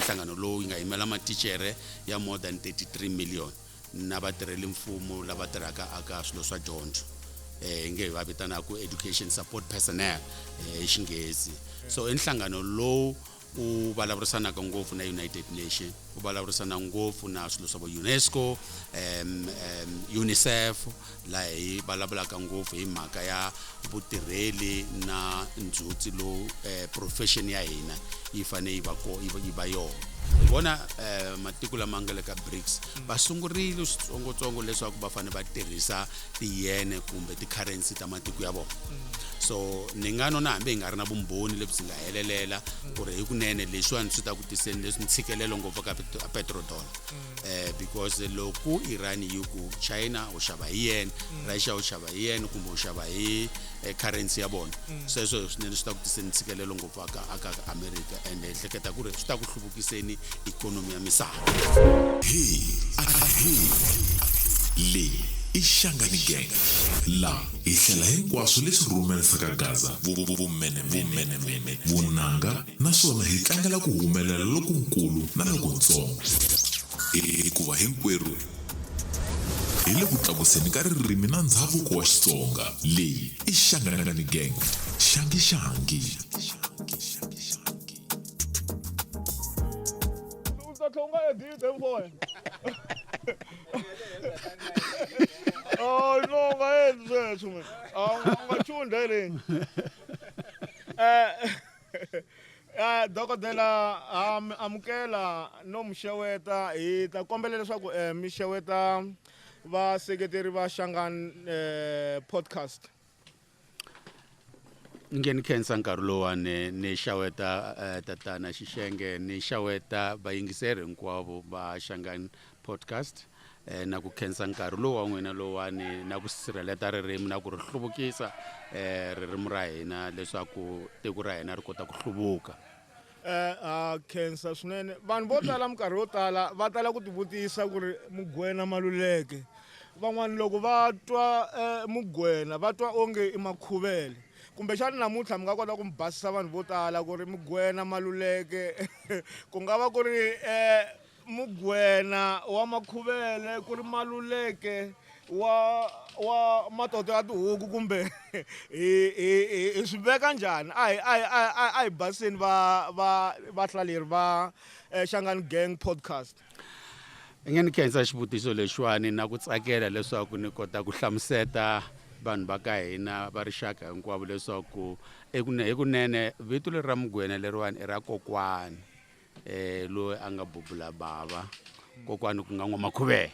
nhlangano lowu nga yimela matichere ya more than 33 million na vatirheli mfumo lava tirhaka aka swilo swa dyondzo eh, hi nge va vitanaka education support personnel eh, hi xinghezi so i nhlangano lowu u vulavurisanaka ngopfu na united nation u vulavurisana ngopfu na swilo swa vo unesco um, um, unicef laha hi vulavulaka ngopfu hi mhaka ya vutirheli na ndzhutsi lowu eh, profession ya hina yi fanele yi va ko- yi va- yi va yona hi vona um matiko lama nga le ka brics va sungurile switsongotsongo leswaku va fanele va tirhisa tiyene kumbe ti-currency ta matiko ya vona so ni nga nona hambi hi nga ri na vumbhoni lebyi nga helelela ku ri hikunene leswiwani swi ta ku tiseni leswi ntshikelelo ngopfu ka petrodollar um because loko iran yi ku china u xava hi yena russia u xava hi yena kumbe u xava hi eh, currency ya vona sweswo swinene swi ta ku tiseni ntshikelelo ngopfu aka aka america and ehleketa ku ri swi ta ku giseni ikhonomi ya misava hii hii leyi i xangani gang laha hi hlela hinkwaswo leswi rhumerisaka gaza vumenemene vunanga naswona hi tlangela ku humelela lokunkulu na lokuntsongo hikuva hinkwerhu hi le ku tlakuseni ka ririmi na ndhavuko wa xitsonga leyi i xangani gang xangi xangi Oh, no, nga yenzi sweswo mina. A wu nga- u nga chunda hi leyi. Eh, eh, dokodela ha mi amukela no mi xeweta hi ta kombela leswaku eh, mi xeweta vaseketeri va xangan eh, podcast ni nge ni khensa nkarhi lowani ni xaweta uh, tatana xixenge ni xaweta vayingiseri hinkwavo va xangan podcast eh, na ku khensa nkarhi lowu wa n'wina lowani na ku sirheleta ririmi na ku ri hluvukisa eh, ririmi ra hina leswaku tiko ra hina ri kota ku hluvuka eh, ha khensa swinene vanhu vo tala minkarhi yo tala va tala ku tivutisa ku ri mugwena maluleke van'wana loko va twa eh, mugwena va twa onge i makhuvele kumbexani namuntlha mi nga kota ku mi basisa vanhu vo tala ku ri mugwena maluleke ku nga va ku ri um mugwena wa makhuvele ku ri maluleke wa wa matoto ya tihuku kumbe hi hi hi swi veka njhani a hi a hi a hi a hi baseni va va vahlaleri va eh, Shangani Gang podcast i nge ni khensa xivutiso lexiwani na ku tsakela leswaku ni kota ku hlamuseta vanhu va ka hina va rixaka hinkwavo leswaku hi kunene vito leri ra mugwena leriwani i ra kokwani eh loyi a nga bubula bava kokwani ku nga n'wamakhuvela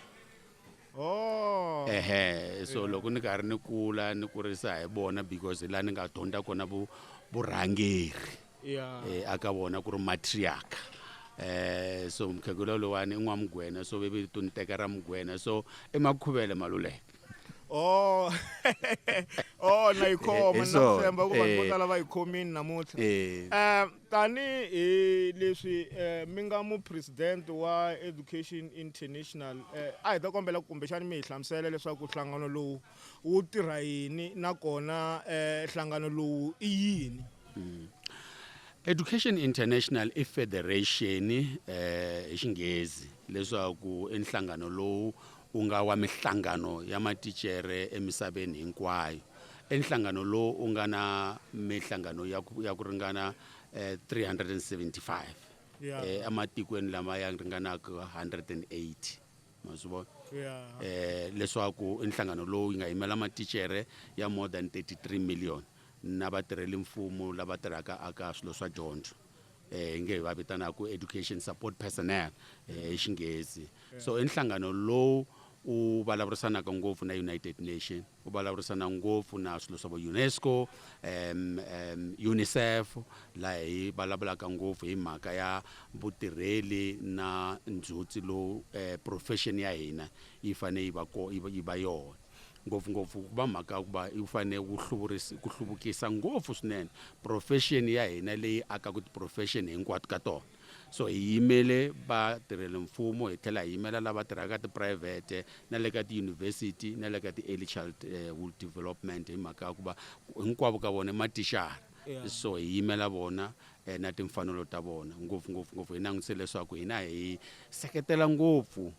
oh ehe so loko ni karhi ni kula ni kurisa hi vona because la ni nga dyondza kona vu vurhangeri yeah eh, aka vona ku ri matriarch eh so mkhegula lowani i n'wamugwena so vevi to ni teka ra mugwena so i makhuvele maluleke oh oh na yi khoma Hi na swona, tshemba ku vanhu vo eh. tala va yi khomini namuntlha eh um Tanihi leswi eh, mi nga mupresidente wa Education International eh, a hi ta kombela ku kumbexani mi hi hlamusela leswaku nhlangano lowu wu tirha yini nakona eh, nhlangano lowu i yini hmm. Education International i federation eh hi xinghezi leswaku i nhlangano lowu ku nga wa Mihlangano ya Matichere Emisaveni Hinkwayo. I nhlangano lowu wu nga na mihlangano ya ku, ya ku ringana eh, 375 eh, ematikweni lama ya ringanaka 180 ma swi vona eh, leswaku i nhlangano lowu yi nga yimela matichere ya more than 33 million na vatirheli mfumo lava tirhaka aka swilo swa dyondzo eh, hi nge va vitanaku education support personnel eh, hi xinghezi so i nhlangano lowu u vulavurisanaka ngopfu na united nation u vulavurisana ngopfu na swilo swa vo unesco um, um, unicef laha hi vulavulaka ngopfu hi mhaka ya vutirheli na ndzhutsi lowu um eh, profession ya hina yi fanele yi va ko yi va yona ngopfungopfu ku va mhaka ya ku va yi fanele ku hluvurisa ku hluvukisa ngopfu swinene profession ya hina leyi akaka ti-profession hinkwato ka tona so hi yimele vatirheli mfumo hi tlhela hi yimela lava tirhaka tiphurayivhete na le ka tiyunivhesiti na le ka ti-early childhood eh, development hi mhaka ya ku va hinkwavo ka vona i matixara yeah. so hi yimela vona eh, na timfanelo ta vona ngopfungopfu ngopfu hi langutise leswaku hina hi seketela ngopfu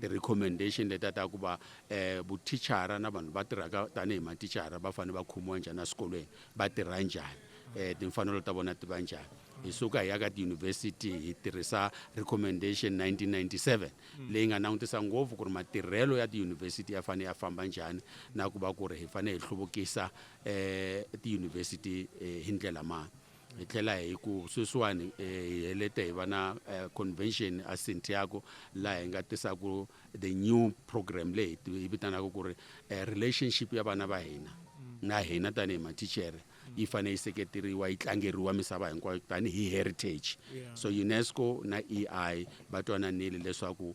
ti-recommendation leta ta ku va um vuthicara na vanhu va tirhaka tanihi mathicara va fanele va khomiwa njhani eswikolweni va tirha njhani um timfanelo ta vona ti va njhani hi suka hi ya ka tiyunivhesiti hi tirhisa recommendation 1997 leyi nga langutisa ngopfu ku ri matirhelo ya tiyunivhesiti ya fanele ya famba njhani na ku va ku ri hi fanele hi hluvukisa um tiyunivhesiti hi ndlela mani hi tlhela hi ku sweswiwani eh, hi helete hi va na eh, convention a santiago laha hi nga tisaku the new program leyi hi vitanaka ku ri eh, relationship ya vana va hina na hina tanihi matichere yi fanele yi seketeriwa yi tlangeriwa misava hinkwayo tanihi heritage so unesco na ei va twananile leswaku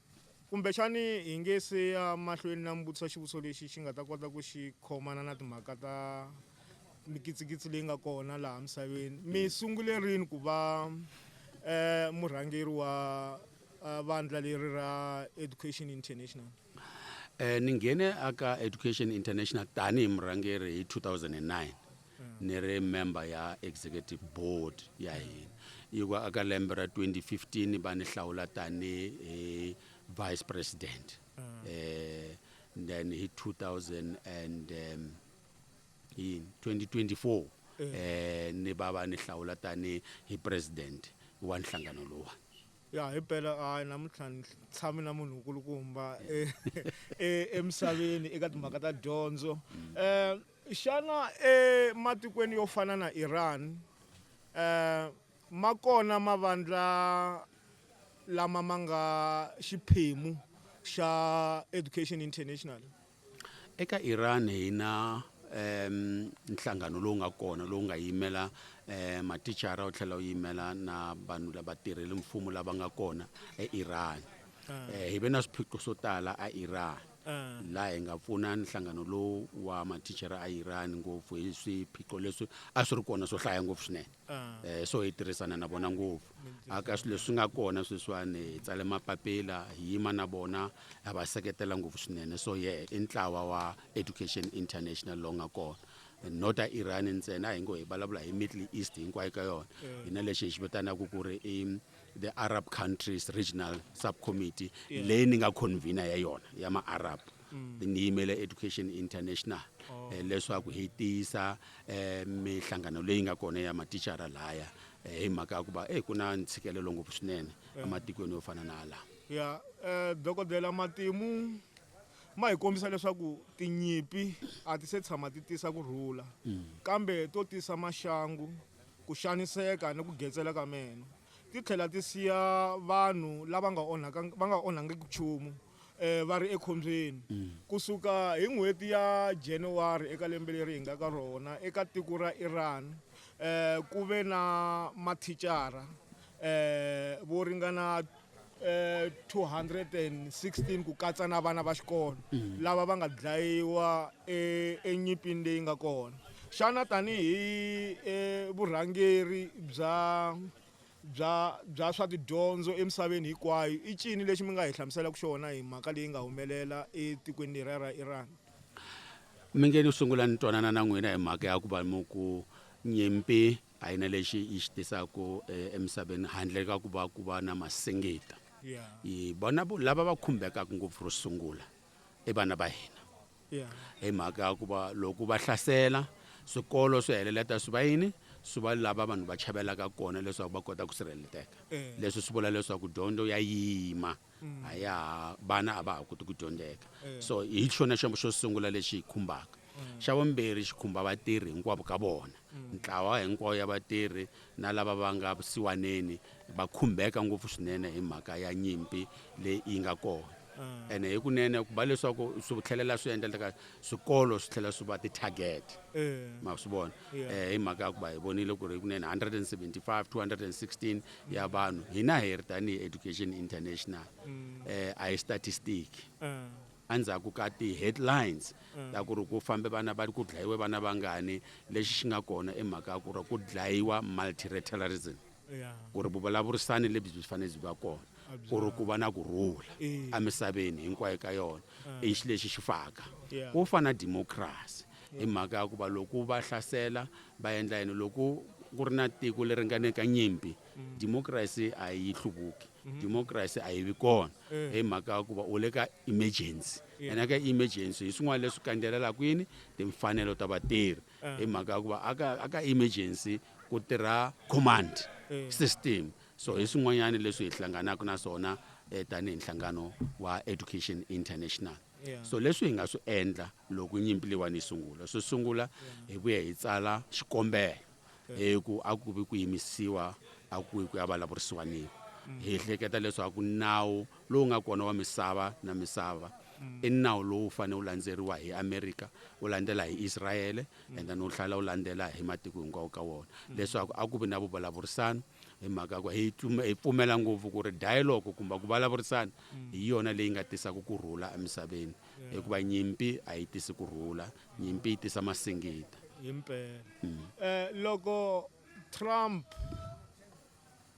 Kumbexani hi nge se ya mahlweni na mi vutisa xivutiso lexi xi nga ta kota ku xi khomana na timhaka ta mikitsikitsi leyi nga kona laha misaveni. Mi sungule rini ku va um murhangeri wa vandla leri ra Education International? Um ni nghene aka Education International tanihi murhangeri hi 2009. ni ri member ya executive board ya hina yi ku aka lembe ra 2015 va ni hlawula tani hi vice president mm. eh then hi 2000 and um, in 2024 eh. eh ni baba ni hlawula tani hi president wa nhlangano lowa ya hi phela hayi namuntlha ni tshame na munhu nkulukumba eh, eh, emisaveni eka timhaka ta dyondzo um Xana ematikweni yo fana na Iran eh, ma kona mavandla lama ma nga xiphemu xa Education International? eka Iran hi na um nhlangano lowu nga kona lowu nga yimela um matichara wu tlhela wu yimela na vanhu lava tirheli mfumo lava nga kona eIran um hi ve na swiphiqo swo tala a Iran laha hi nga pfuna nhlangano lowu wa mathicara a Iran ngopfu hi swiphiqo leswi a swi ri kona swo hlaya ngopfu swinene eh, so hi tirhisana na vona ngopfu aka swilo leswi nga kona sweswiwani hi tsale mapapila hi yima na vona ha va seketela ngopfu swinene so ye i ntlawa wa education international lowu nga kona not a iran ntsena a hi ngo hi vulavula hi middle east hinkwayo ka yona hi na lexi hi xi vitanaka ku ri i the Arab Countries Regional Subcommittee yeah. leyi ni nga convener ya yona ya ma-arab mm. ni yimele education international oh. eh, leswaku hi tiyisa eh, mihlangano leyi nga kona ya matichara laya eh, hi mhaka ya ku va eh, ku na ntshikelelo ngopfu swinene yeah. ematikweni yo fana na laha ya yeah. eh, dokodela matimu ma hi kombisa leswaku tinyimpi a ti se tshama ti tisa ku rhula mm. kambe to tisa maxangu ku xaniseka ni ku getsela ka meno. Ti tlhela ti siya vanhu lava nga onhaka va nga onhangiki nchumu va ri ekhombyeni. Ku suka hi n'hweti ya January eka lembe leri hi nga ka rona eka tiko ra Iran ku ve na mathicara vo ringana. eh 216 ku katsa na vana va xikolo mm. lava va nga dlayiwa eh, enyipini leyi nga kona xana tanihi eh, vurhangeri bya bya bya swa tidyondzo emisaveni hinkwayo i cini lexi mi nga hi hlamuselaka xona hi mhaka leyi nga humelela etikweni leri ra Iran mi nge ni sungula ni twanana na n'wina hi mhaka ya ku va mu ku nyimpi A yi na lexi yi xi tisaka emisaveni handle ka ku va ku va na masingita. Hi vona lava va khumbekaka ngopfu ro sungula i vana va hina hi mhaka ya ku va loko va hlasela swikolo swi heleleta swi va yini swi va lava vanhu va chavelaka kona leswaku va kota ku sirheleteka leswi swi vula leswaku dyondzo ya yima. mm. a ya ha vana a va ha koti ku dyondzeka eh. so hi xona xo xo sungula lexi hi khumbaka mm. xa vumbirhi xi khumba vatirhi hinkwavo ka vona mm. ntlawa hinkwawo ya vatirhi na lava va nga vusiwaneni va khumbeka ngopfu swinene hi mhaka ya nyimpi leyi yi nga kona ah. ene hi kunene ku va leswaku swi tlhelela swi endleka swikolo swi tlhela swi va ti-target eh. ma swi vona um hi mhaka ya ku va hi vonile ku ri hi kunene 175 216 ya vanhu hina hi ri tanihi education international mm. eh, a hi statistic mm. endzhaku ka ti-headlines mm. ta ku ri ku fambe vana va ku dlayiwe vana vangani lexi xi nga kona i mhaka ya ku ri ku dlayiwa multilateralism ku ri vuvulavurisani lebyi byi fanele byi va kona ku ri ku va na ku rhula emisaveni hinkwayo ka yona i xi lexi xi faka ku fana democracy Hi mhaka ya ku va loko va hlasela va endla yini loko ku ri na tiko leri nga ne ka nyimpi mm. democracy a yi hluvuki mm-hmm. democracy a yi vi kona eh. hi mhaka ya ku va u le ka emergency ene ka emergency hi swin'wana leswi kandzelelaka yini timfanelo ta vatirhi eh. hi mhaka ya ku va aka aka emergency ku tirha command eh. system so hi swin'wanyana leswi hi hlanganaka na swona tanihi nhlangano wa education international so leswi hi nga swi endla Loko nyimpi leyiwani yi sungula, swo sungula hi vuye hi tsala xikombelo hi ku a ku vi ku yimisiwa a ku ku ya vulavurisiwa niwa hi hleketa leswaku nawu lowu nga kona wa misava na misava i nawu lowu fanele wu landzeriwa hi america wu landzela hi israele and then wu tlhela wu landzela hi matiko hinkwawo ka wona leswaku a ku vi na vuvulavurisano hi mhaka ku hi hi pfumela ngopfu ku ri dialogue kumbe ku vulavurisana hi yona leyi nga tisaka ku rhula emisaveni hikuva nyimpi a yi tisi ku rhula nyimpi yi tisa masingita himpela mm. eh, loko trump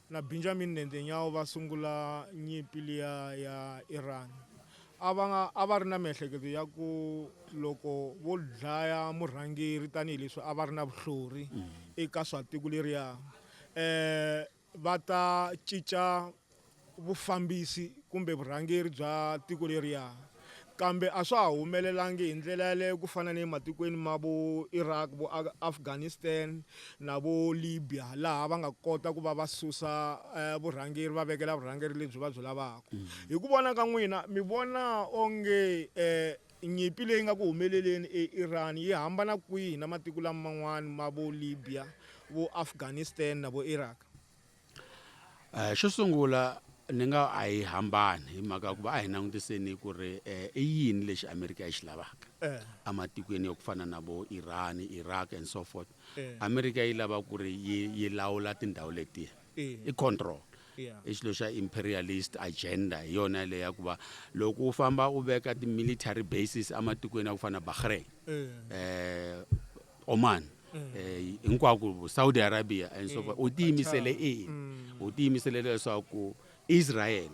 na benjamin nendenyawo va sungula nyimpi liya ya iran a va nga a va ri na miehleketo ya ku loko vo dlaya murhangeri tanihileswi a va ri na vuhlori mm. eka swa tiko leriya um eh, va ta cinca vufambisi kumbe vurhangeri bya tiko leriya. Kambe a swa ha humelelangi hi ndlela yaleyo ku fana ni ematikweni ma vo Iraq, vo Afghanistan na vo Libya laha va nga kota ku va va susa eh, vurhangeri va vekela vurhangeri lebyi va byi lavaka. Hi ku vona ka n'wina mi vona onge eh, Nyimpi leyi nga ku humeleleni eIran yi hambana kwihi na matiko laman'wana ma vo Libya, vo Afghanistan na vo Iraq? Xo sungula ni nga a yi hambani hi mhaka ya ku va a hi langutiseni ku ri i yini lexi Amerika yi xi lavaka ematikweni ya ku fana na vo Iran, Iraq and so forth. Amerika yi lava ku ri yi yi lawula tindhawu letiya. i control i xilo xa imperialist agenda hi yona leyi ya ku va loko u famba u veka ti-military bases ematikweni ya ku fana na bahrain um oman um hinkwako saudi arabia and so u tiyimisele ina u tiyimisele leswaku Israyele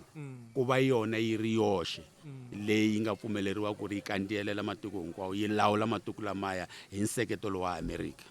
ku va yona yi ri yoxe leyi yi nga pfumeleriwa ku ri yi kandziyelela matiko hinkwawo, yi lawula matiko lamaya hi nseketelo wa Amerika.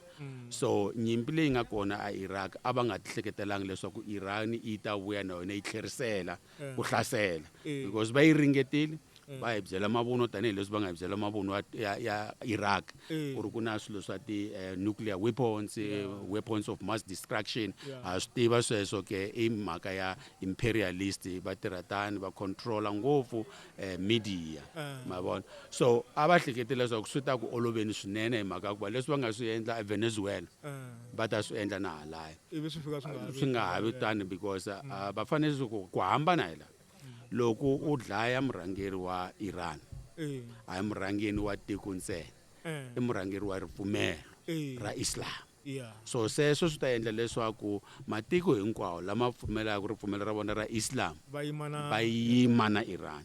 So, nyimpi leyi nga kona aIraq, a va nga tihleketelanga leswaku Iran yi ta vuya na yona yi tlherisela ku hlasela, because va yi ringetile, mm. va hi byela mavuno tanihileswi va nga hi byela mavuno ya, ya iraq mm. ku ri ku na swilo swa ti-nuclear eh, weapons yeah. weapons of mass destruction yeah. ha swi tiva sweswo ke i mhaka ya imperialist va tirha tani va controla ngopfu eh, media uh. ma vona so a va hlekete leswaku swi ta ku oloveni swinene hi mhaka ya ku va leswi va nga swi endla evenezuela uh. va ta swi endla na halaya swi nga ha vi tani because uh, va fanele ku hambana hi laha loko u dlaya murhangeri wa Iran a hi murhangeni wa tiko ntsena i murhangeri wa ripfumelo ra Islam so sweswo swi ta endla leswaku matiko hinkwawo lama pfumelaka ripfumelo ra vona ra Islam va yima na Iran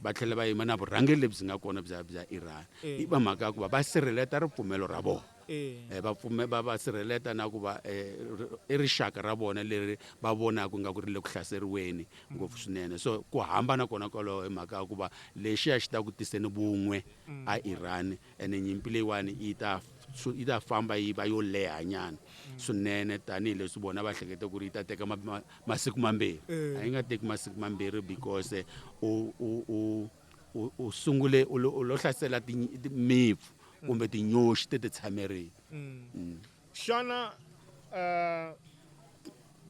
va tlhela va yima na vurhangeri lebyi nga kona bya bya Iran hi va mhaka ku va va sirheleta ripfumelo ra vona eh, va pfume va va sirheleta na ku va eh, i rixaka ra vona leri va vonaka nga ku ri le ku hlaseriweni ngopfu mm. swinene so ku hambana kona kwalaho hi mhaka ya ku va lexiya xi ta ku tiseni vun'we mm. a iran ene nyimpi leyiwani yi ta yi ta famba yi va yo leha nyana mm. swinene tanihileswi vona va hlekete ku ri yi ta teka masiku mambirhi eh. a yi nga teki masiku mambirhi because u U, u sungule u lo, u lo hlasela ti, ti, mipfu kumbe tinyoxi ti ti tshamerile. Mm. Xana uh,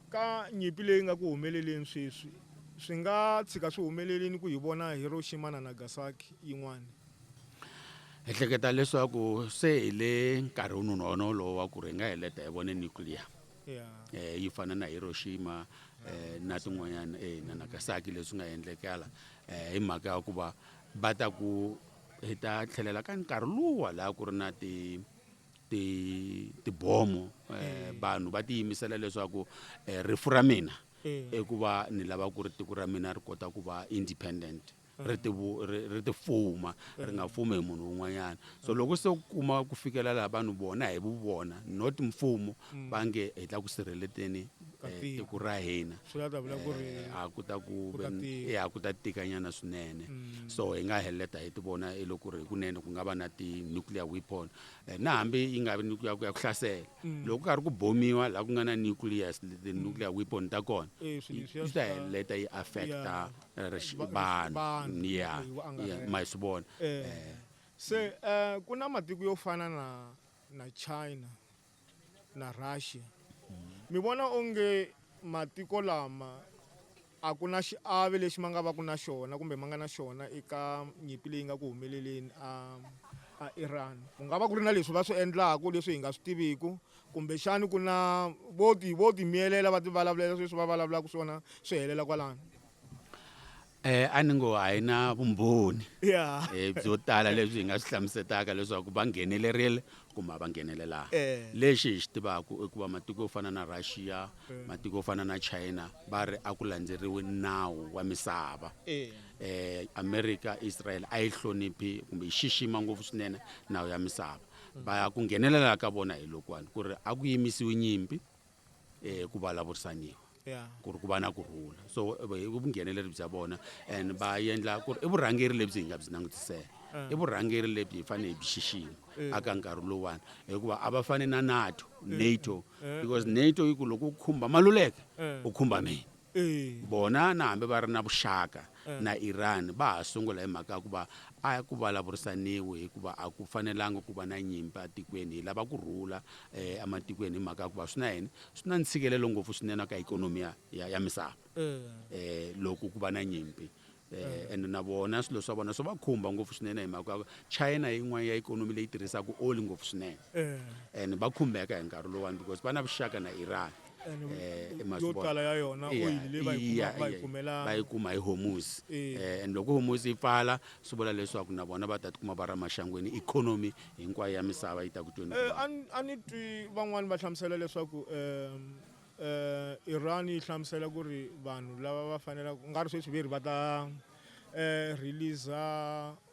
ka nyimpi leyi nga ku humeleleni sweswi swi nga tshika swi humelelini ku hi vona Hiroshima na Nagasaki yin'wana? Hi hleketa leswaku se hi le nkarhini wolowo wa ku ri hi nga heleta hi vone nuclear yeah. eh, yi fana na Hiroshima eh, na tin'wanyana eh, na Nagasaki leswi nga endlekala eh, hi mhaka ya ku va va ta ku hi ta tlhelela ka nkarhi luwa laha ku ri na ti ti tibomo eh, mm. vanhu va tiyimisela leswaku eh, rifu ra mina mm. i ku va ni lava ku ri tiko ra mina ri kota ku va independent mm. ri ti ri ti fuma ri nga fumi hi munhu un'wanyana so loko se ku kuma ku fikelela vanhu vona hi vu vona not mfumo va nge hi ta ku sirheleteni eh, tiko ra hina eh, a ku ta ku eh, a ku ta tikanyana swinene mm. so hi nga heleta hi ti vona hi loko ri hikunene ku nga va na ti-nuclear weapon na hambi yi nga vi nuclear ku ya ku hlasela mm. loko ku karhi ku bomiwa laha ku nga na nuclear ti-nuclear mm. weapon ta kona yi ta heleta yi affecta vanhu ya ma swi vona se um ku na matiko yo fana na na china na Russia. Mi vona onge matiko lama a ku na xiave lexi ma nga va ku na xona kumbe ma nga na xona eka nyimpi leyi nga ku humeleleni a a Iran ku nga va ku ri na leswi va swi endlaku leswi hi nga swi tiviku kumbexani ku na vo ti vo ti miyelela va ti vulavulela sweswi va vulavulaku swona swi helela kwalano Eh, a ni ngo a hi na vumbhoni Yeah. eh, byo tala lebyi hi nga swi hlamusetaka leswaku va nghenelerile kumbe a va nghenelelanga Eh. lexi hi xi tivaku i ku va matiko yo fana na russia matiko yo fana na china va ri a ku landzeriwi nawu wa misava Eh. eh America Israel a yi hloniphi kumbe yi xixima ngopfu swinene nawu ya misava va ku nghenelela ka vona hi lokuwani ku ri a ku yimisiwi nyimpi eh ku vulavurisaniwa Yeah. ku ri ku va na ku rhula so eh, i vungheneleri bya vona and va endla ku ri i vurhangeri lebyi hi nga byi langutisela i vurhangeri lebyi hi fanele hi byi xixima aka nkarhi lowuwani hikuva a va fane na nato nato because nato yi ku loko u khumba maluleke u khumba mina Eh. bona na hambi va ri na vuxaka na Iran va ha sungula hi mhaka ya ku va a ku vulavurisaniwi hikuva a ku fanelanga ku va na nyimpi atikweni hi lava ku rhula um ematikweni hi mhaka ya ku va swi na yini swi na ntshikelelo ngopfu swinene ka ikhonomi ya ya, ya misava um loko ku va na nyimpi um ende na vona swilo swa vona swi va khumba ngopfu swinene hi mhaka ya ku china yin'wana ya ikhonomi leyi tirhisaka oli ngopfu swinene and va khumbeka hi nkarhi lowani because va na vuxaka na iran eh, eh yo tala ya yona oyili leyi va yi kumaka va yi kumela va yi kuma hi homusi eh. eh, and loko homusi yi pfala swi vula leswaku na vona va ta tikuma va ra maxangwini ikhonomi hinkwayo ya misava yi ta ku tweni eh, a ni twi van'wani va hlamusela leswaku um eh, iran yi hlamusela ku ri vanhu lava va fanelaka ku nga ri sweswi ve ri va ta um releasa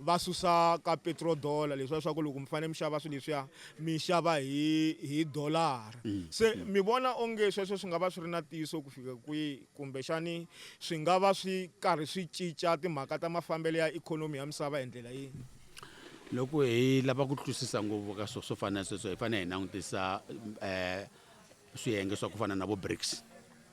va susa ka petrol dollar leswiya swa ku loko mi fanele mi xava swilo leswiya mi xava hi hi dolara se mi vona onge sweswo swi nga va swi ri na ntiyiso ku fika kwihi kumbexani swi nga va swi karhi swi cinca timhaka ta mafambelo ya ikhonomi ya misava hi ndlela yini loko hi lava ku twisisa ngopfu ka swo swo fana na sweswo hi fanele hi langutisa um swiyenge swa ku fana na vo brics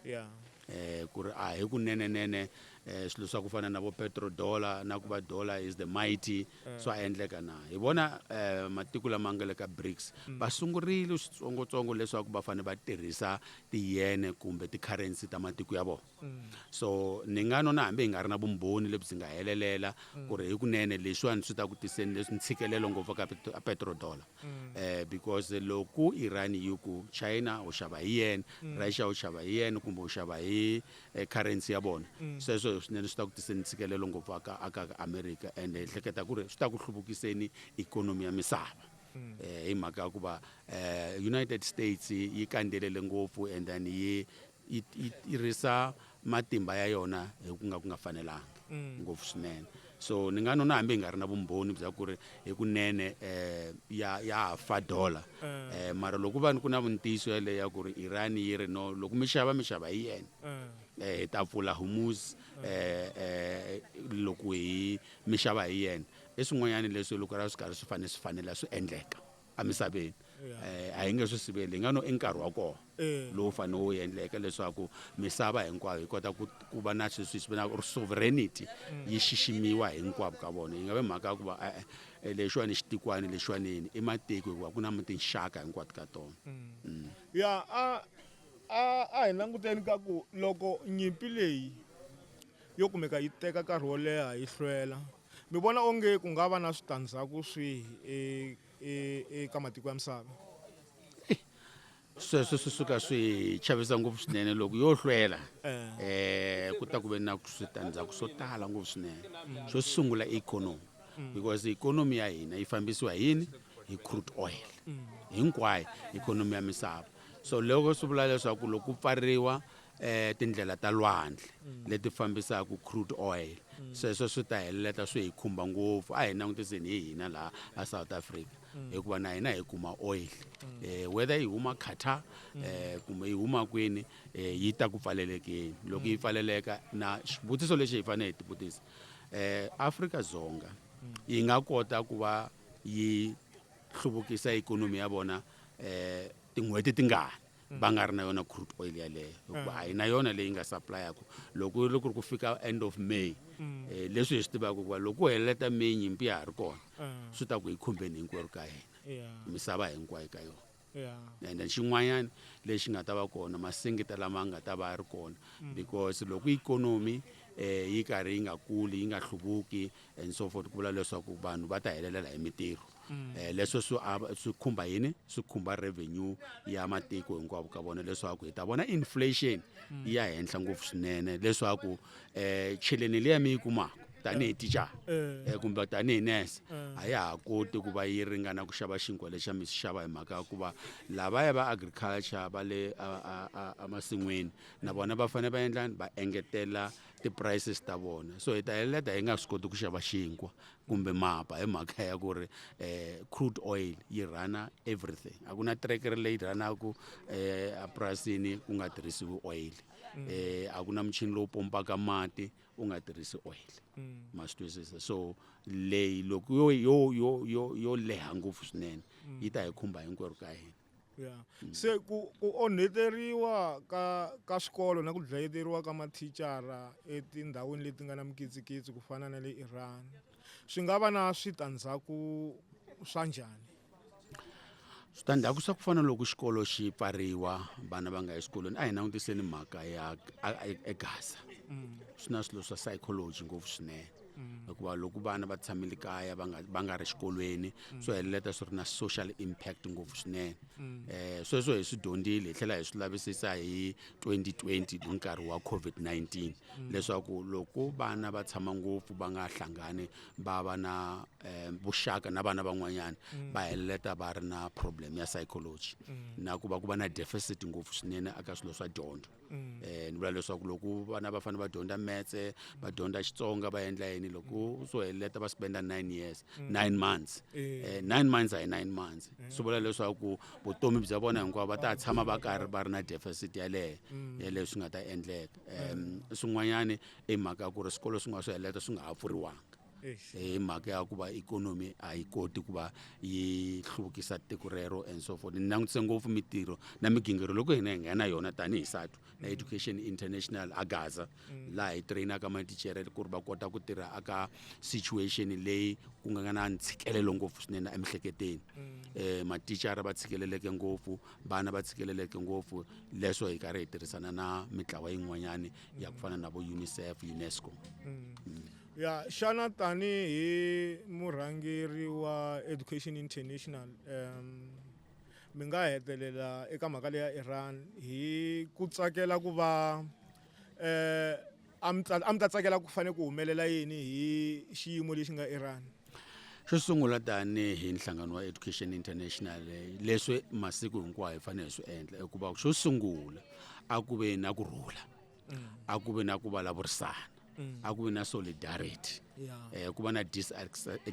yeah. eh, ku ri a hi kunenenene eh, swilo swa ku fana na vo petrodollar na ku va dollar is the mighty mm. swa endleka na hi vona eh, matiko lama nga le ka brics mm. va sungurile switsongotsongo leswaku va fanele va tirhisa tiyene kumbe ti-currency ta matiko ya vona So, ni nga nona hambi hi nga ri na vumbhoni lebyi nga helelela ku ri hikunene leswiwani swi ta ku tiseni leswi ntshikelelo ngopfu ka petrodollar. Eh, because loko Iran yi ku China u xava hi yen, Russia u xava hi yen kumbe u xava hi eh, currency ya vona, sweswo swinene swi ta ku tiseni ntshikelelo ngopfu aka aka America and hi hleketa ku ri swi ta ku hluvukiseni ikhonomi ya misava. Eh, hi mhaka ya ku va eh, United States yi kandzelele ngopfu and then yi yi yi tirhisa matimba ya yona hi ku nga ku nga fanelanga mm. ngopfu swinene so ni nga nona hambi hi nga ri na vumbhoni bya ku ri hikunene um ya ya fa dollar um eh. eh, mara loko va ni ku na vuntiyiso yaleyo ya ku ri iran yi ri no loko mi xava mi xava hi yena um hi ta pfula humus um loko hi mi xava hi yena i swin'wanyana leswi loko ra swi karhi swi fanele swi fanela swi endleka emisaveni eh, a hi nge swi siveli hi nga no i nkarhi wa kona eh. lowu fanele wu endleke leswaku misava hinkwayo yi kota ku va na sweswi swi venaka sovereignty mm. yi xiximiwa hinkwavo ka vona yi nga ve mhaka ya ku va e-e eh, lexiwani xitikwani lexiwanini i matiko hikuva ku na tinxaka hinkwato ka tona mm. Mm. ya a a a hi languteni ka ku loko nyimpi leyi yo kumeka yi teka nkarhi wo leha yi hlwela Mi vona onge ku nga va na switandzhaku swihi eka matiko ya misava? sweswo swi suka swi chavisa ngopfu swinene loko yo hlwela eh. um ku ta ku ve na switandzhaku swo tala ngopfu swinene mm. xo sungula ikhonomi mm. because ikhonomi ya hina yi fambisiwa yini hi crude oil mm. hinkwayo ikhonomi ya misava so loko swi vula leswaku loko ku pfariwa eh tindlela ta lwandle mm. leti fambisaka crude oil mm. sweswo swi ta heleleta swi hi khumba ngopfu a hi langutiseni hi hina laha a south africa mm. hikuva na hina hi kuma oil eh whether yi huma qatar eh kumbe yi huma kwini eh, yi ta ku pfalelekeni loko yi pfaleleka na xivutiso lexi hi fanele hi tivutisa eh africa dzonga yi nga kota ku va yi hluvukisa ikhonomi ya vona eh tin'hweti tingani va nga ri na yona crude oil yaleyo hikuva a hi na yona leyi nga supplyaku loko loko ri ku fika end of may um leswi hi swi tivaka hikuva loko helela ta may nyimpi ya ha ri kona um swi ta ku hi khumbeni hinkwerhu ka hina misava hinkwayo ka yona ende xin'wanyana lexi nga ta va kona masingita lama nga ta va ri kona mm. because loko ikhonomi um yi karhi yi nga kuli yi nga hluvuki and so forth ku vula leswaku vanhu va ta helelela hi mitirho um leswo swi swi khumba yini swi khumba revenue ya matiko hinkwavo ka vona leswaku hi ta vona inflation mm. ya henhla ngopfu swinene leswaku um eh, cheleni leya mi yi kumaka tanihi tichara um eh. eh, kumbe tanihi nese a ya ha koti ku va yi ringana ku xava xinkwa lexa mi xi xava hi mhaka ya ku va lavaya va agriculture va le emasin'wini na vona va fanele va endlani va engetela ti-prices ta vona so hi ta heleta hi nga swi koti ku xava xinkwa kumbe mapa hi mhaka ya ku ri um crude oil yi rhana everything a ku na trekere leyi rhanaku um eh, epurasini ku nga tirhisiwi oil um a ku na muchini lowu pompaka mati u nga tirhisi oil mm. ma swi twisisa so leyi loko yo yo yo yo yo leha ngopfu swinene yi ta hi khumba hinkwerhu ka hina ya se ku ku onheteriwa ka ka swikolo na ku dlayeteriwa ka mathicara etindhawini leti nga na mikitsikitsi ku fana na le iran swi nga va na switandzhaku swa njhani switandzhaku swa ku fana loko xikolo xi pfariwa vana va nga eswikolweni a hi langutiseni mhaka ya egaza swi na swilo swa psychology ngopfu swinene mm. hikuva loko vana va tshamile kaya va nga va nga ri xikolweni mm. swo heleleta swi ri na social impact ngopfu swinene um sweswo hi swi dyondzile hi tlhela hi swi lavisisa hi 2020 hi nkarhi wa covid-19 leswaku loko vana va tshama ngopfu va nga hlangani va va na um vuxaka na vana van'wanyana va heleleta va ri na problem ya psychology na ku va ku va na deficit ngopfu swinene aka swilo swa dyondzo um ni vula leswaku loko vana va fanele va dyondza metse va dyondza xitsonga va endla yini loko u swo heleta va spenda nine years mm. nine months um nine months a hi nine months mm. swi vula leswaku vutomi bya vona hinkwavo va ta tshama va karhi va ri na deficit yaleyo mm. yaleyo swi nga ta endleka um swin'wanyana i mhaka ya ku ri swikolo swin'wana swo heleta swi nga ha pfuriwanga hi mhaka ya ku va ikhonomi a yi koti ku va yi hluvukisa tiko rero and so forth ni langutise ngopfu mitirho na migingiriko loko hina hi nghena yona tanihi satu na education international a gaza mm. laha hi trainaka matichere ku ri va kota ku tirha aka situation leyi ku nga na ntshikelelo ngopfu swinene emihleketeni um eh, matichara va tshikeleleke ngopfu vana va tshikeleleke ngopfu leswo hi karhi hi tirhisana na mitlawa yin'wanyana ya ku fana na vo unicef unesco mm. Mm. Ya, xana tanihi murhangeri wa Education International um mi nga hetelela eka mhaka leya Iran hi ku tsakela ku va eh a mi a mi ta tsakela ku fanele ku humelela yini hi xiyimo lexi nga Iran? xo sungula tanihi nhlangano wa education international leswi masiku hinkwawo hi fanele hi swi endla hikuva xo sungula a ku ve na ku rhula a ku vi na ku vulavurisana a ku vi na solidarity um ku va na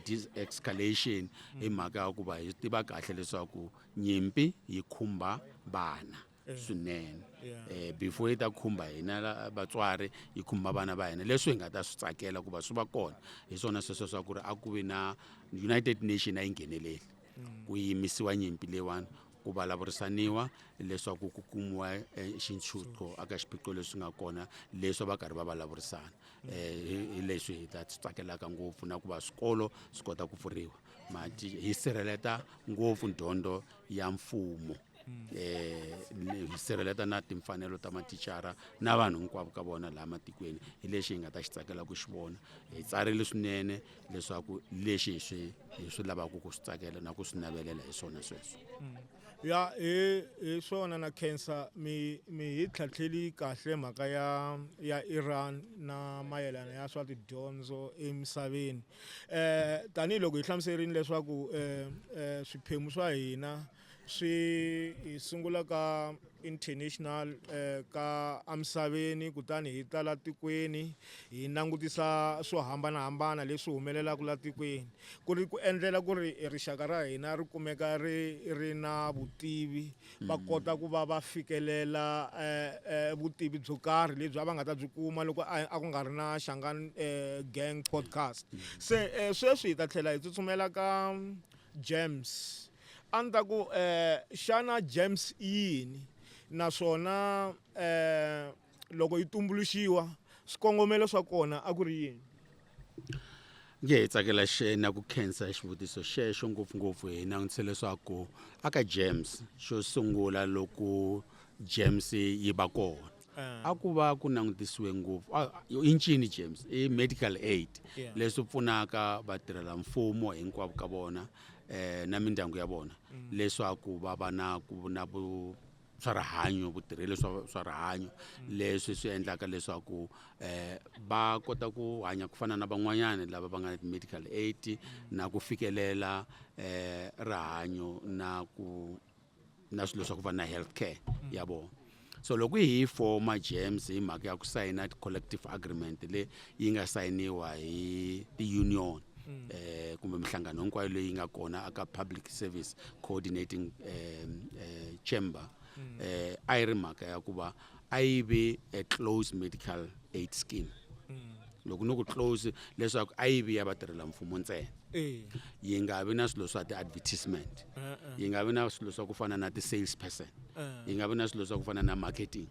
disescalation hi mhaka ya ku va hi tiva kahle leswaku nyimpi yi khumba vana Eh. swinene eh, before yi ta khumba hina vatswari yi khumba vana va hina leswi hi nga ta swi tsakela ku va swi va kona hi swona sweswo swa ku ri a ku vi na united nation a yi ngheneleli mm. ku yimisiwa nyimpi leyiwani ku vulavurisaniwa leswaku ku kumiwa eh, xintshutlo aka xiphiqo leswi nga kona leswi va karhi va vulavurisana um eh, hi leswi hi ta swi tsakelaka ngopfu na ku va swikolo swi kota ku pfuriwa mati hi sirheleta ngopfu dyondzo ya mfumo um hi sirheleta na timfanelo ta matichara na vanhu hinkwavo ka vona laha matikweni hi lexi hi nga ta xi tsakela ku xi vona hi tsarile swinene leswaku leswi hi swi hi swi lavaka ku swi tsakela na ku swi navelela hi swona sweswo mm. ya hi hi swona na cancer mi mi hi tlhatlheli kahle mhaka ya ya Iran na mayelana ya swa tidyondzo emisaveni eh tanihiloko hi hlamuserini leswaku eh, eh swiphemu swa hina eh, swi hi sungula ka international eh, ka emisaveni kutani hi ta la tikweni hi langutisa swo hambanahambana leswi humelelaka la tikweni ku ri ku endlela ku ri rixaka ra hina ri kumeka ri ri na vutivi va mm. kota ku va va fikelela eh, eh, vutivi byo karhi lebyi a va nga ta byi kuma loko a ku nga ri na xangan gang podcast mm. se sweswi hi ta tlhela hi tsutsumela ka james A ni ta ku, eh, xana germs i yini naswona eh, loko yi tumbuluxiwa swikongomelo swa kona a ku ri yini? Nge hi tsakela xe na ku khensa xivutiso xexo ngopfungopfu hi langutise leswaku aka germs xo sungula loko germs yi va kona a ah. ku va ku langutisiwe ngopfu ah, i ncini james i medical aid yeah. leswi pfunaka vatirhela mfumo hinkwavo ka vona eh, na mindyangu ya vona mm. leswaku va va na ku na vu swa rihanyo vutirheli swa swa rihanyo mm. leswi swi endlaka leswaku eh va kota ku hanya ku fana na van'wanyana lava va nga na medical aid mm. na ku fikelela eh rihanyo na ku na swilo swa ku va na health care ya vona so loko hi forma gems hi mhaka ya ku sayina collective agreement leyi yi nga sayiniwa hi ti-union um kumbe minhlangano hinkwayo leyi nga kona aka public service coordinating um um chamber um a yi ri mhaka ya ku va a yi ve a close medical aid scheme loko ni ku close leswaku a yi vi ya vatirhela mfumo ntsena yi nga vi na swilo swa ti-advertisement yi nga vi na swilo swa ku fana na ti-sales person yi nga vi na swilo swa ku fana na marketing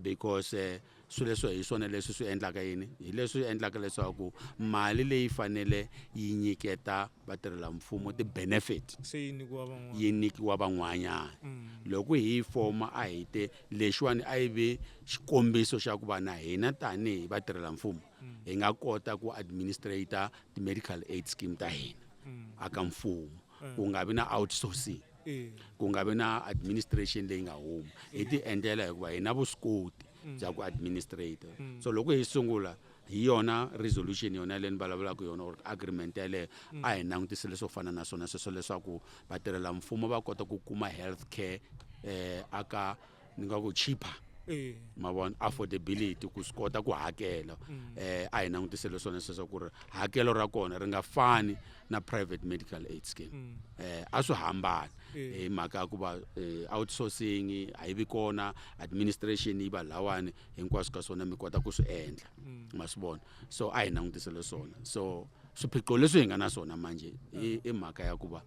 because eh, swilo leswo hi swona leswi swi endlaka yini hi leswi endlaka leswaku mali leyi fanele yi nyiketa vatirhela mfumo ti-benefit se yi nyikiwa van'wana yi nyikiwa van'wanyana loko hi yi foma a hi te lexiwani a yi ve xikombiso xa ku va na hina tanihi vatirhela mfumo mm. hi nga kota ku administrator ti-medical aid scheme ta hina mm. aka mfumo mm. ku nga vi na outsourcing ku nga vi na administration leyi nga huma hi ti endlela hikuva hi na vuswikoti bya ku administrator so loko hi sungula hi yona resolution yona yaleyo ni vulavulaka yona or agreement yaleyo mm. a hi langutise leswo fana na swona sweswo leswaku vatirhela mfumo va kota ku kuma health care eh aka ni nga ku cheaper eh. ma vona affordability ku swi kota ku hakela mm. eh a hi langutise leswona sweswo ku ri hakelo ra kona ri nga fani na private medical aid scheme mm. eh a swi hambana eh. hi mhaka ku va eh, outsourcing a yi vi kona administration yi va lawani hinkwaswo ka swona mi kota ku swi endla mm. ma swi vona so a hi langutisele swona so swiphiqo leswi hi nga na swona manje i mhaka ya ku va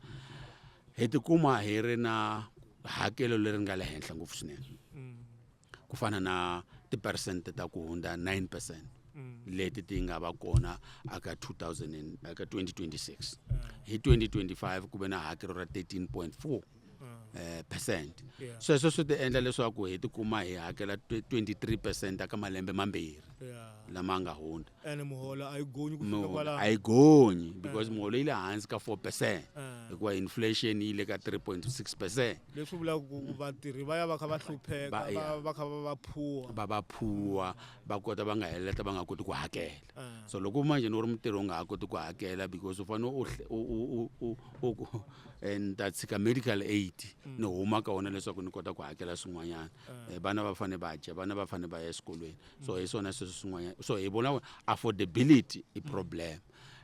hi tikuma hi ri na hakelo leri nga le henhla ngopfu swinene mm. ku fana na tipersente ta ku hundza 9 percent mm. leti ti nga va kona aka 2000 aka 2026 hi 2025 ku ve na hakelo ra 13.4 eh, percent Yeah. sweswo swi ti endla leswaku hi tikuma hi hakela 23 percent aka malembe mambirhi Yeah. lama nga hundza ene muholo a yi gonyi ku fika Muholo kwala a yi gonyi because muholo yi le hansi ka 4 percent Eh. hikuva inflation yi le ka 3.6 percent leswi vulaka ku ku vatirhi va ya va kha va hlupheka Ba- va- yeah. va kha va va phuwa va va phuwa va kota va nga heleta va nga koti ku hakela ah. so loko manje ni ri mutirhi u nga ha koti ku hakela because u fanele u eh, ni ta tshika medical aid mm. ni huma ka wona leswaku ni kota ku hakela swin'wanyana ah. eh, vana va fanele va dya vana va fanele va ya eswikolweni so mm. hi swona sweswo swin'wanyana so hi vona affordability i mm. problem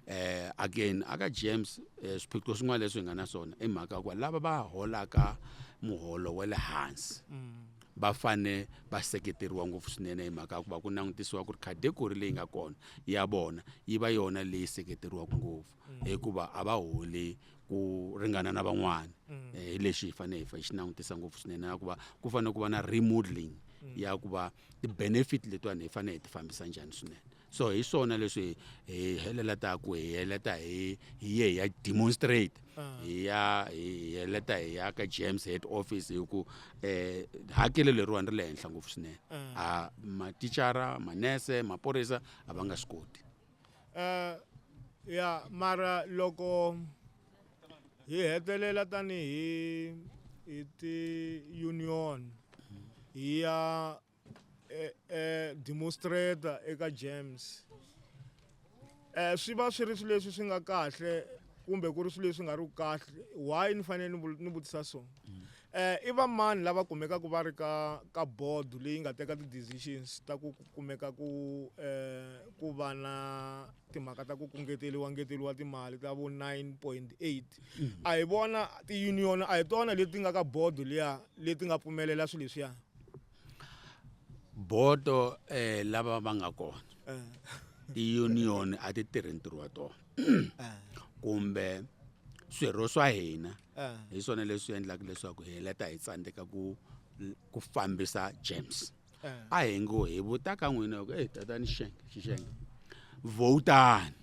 eh again aka James eh, swiphiqo swin'wana leswi hi nga na swona i mhaka ku lava va holaka muholo wa le hansi mm. va fane va seketeriwa ngopfu swinene hi mhaka ya ku va ku langutisiwa ku ri category leyi nga kona ya vona yi va yona leyi seketeriwaka ngopfu mm. hikuva a va holi ku ringana na van'wana mm. eh, hi lexi hi fanele hi xi langutisa ngopfu swinene na ku va ku fanele ku va na remodeling mm. ya ku va ti-benefit letiwani hi fanele hi ti fambisa njhani swinene so hi swona leswi hi helela ta ku hi heleta hi hi ye hi ya demonstrate ah. hi ya hi heleta hi ya ka james head office hi ku um hakelo leriwani ri le henhla ngopfu swinene ah. a matichara manese maphorisa a va nga swi koti um ya mara loko hi hetelela tanihi hi ti-union hi ya eh, eh, demonstrator eka James eh swi va swi ri swilo leswi swi nga kahle kumbe ku ri swilo leswi nga ri kahle why ni fanele ni vutisa so eh i va mani lava kumekaka va ri ka ka board leyi nga teka ti decisions ta ku kumeka ku eh ku va na timhaka ta ku kungeteliwa ngeteliwa timali ta vo 9.8 a hi vona ti union a hi tona leti nga ka board leya leti nga pfumelela swilo leswiya bodo eh lava va nga kona eh. ti-union a ti tirhi ntirho wa tona eh. kumbe swirho swa hina eh. hi swona leswi endlaka leswaku hi heleta hi tsandzeka ku ku fambisa james a hi ngo hi vuta ka n'wina ku eyi tatani xixenge xixenge vhotani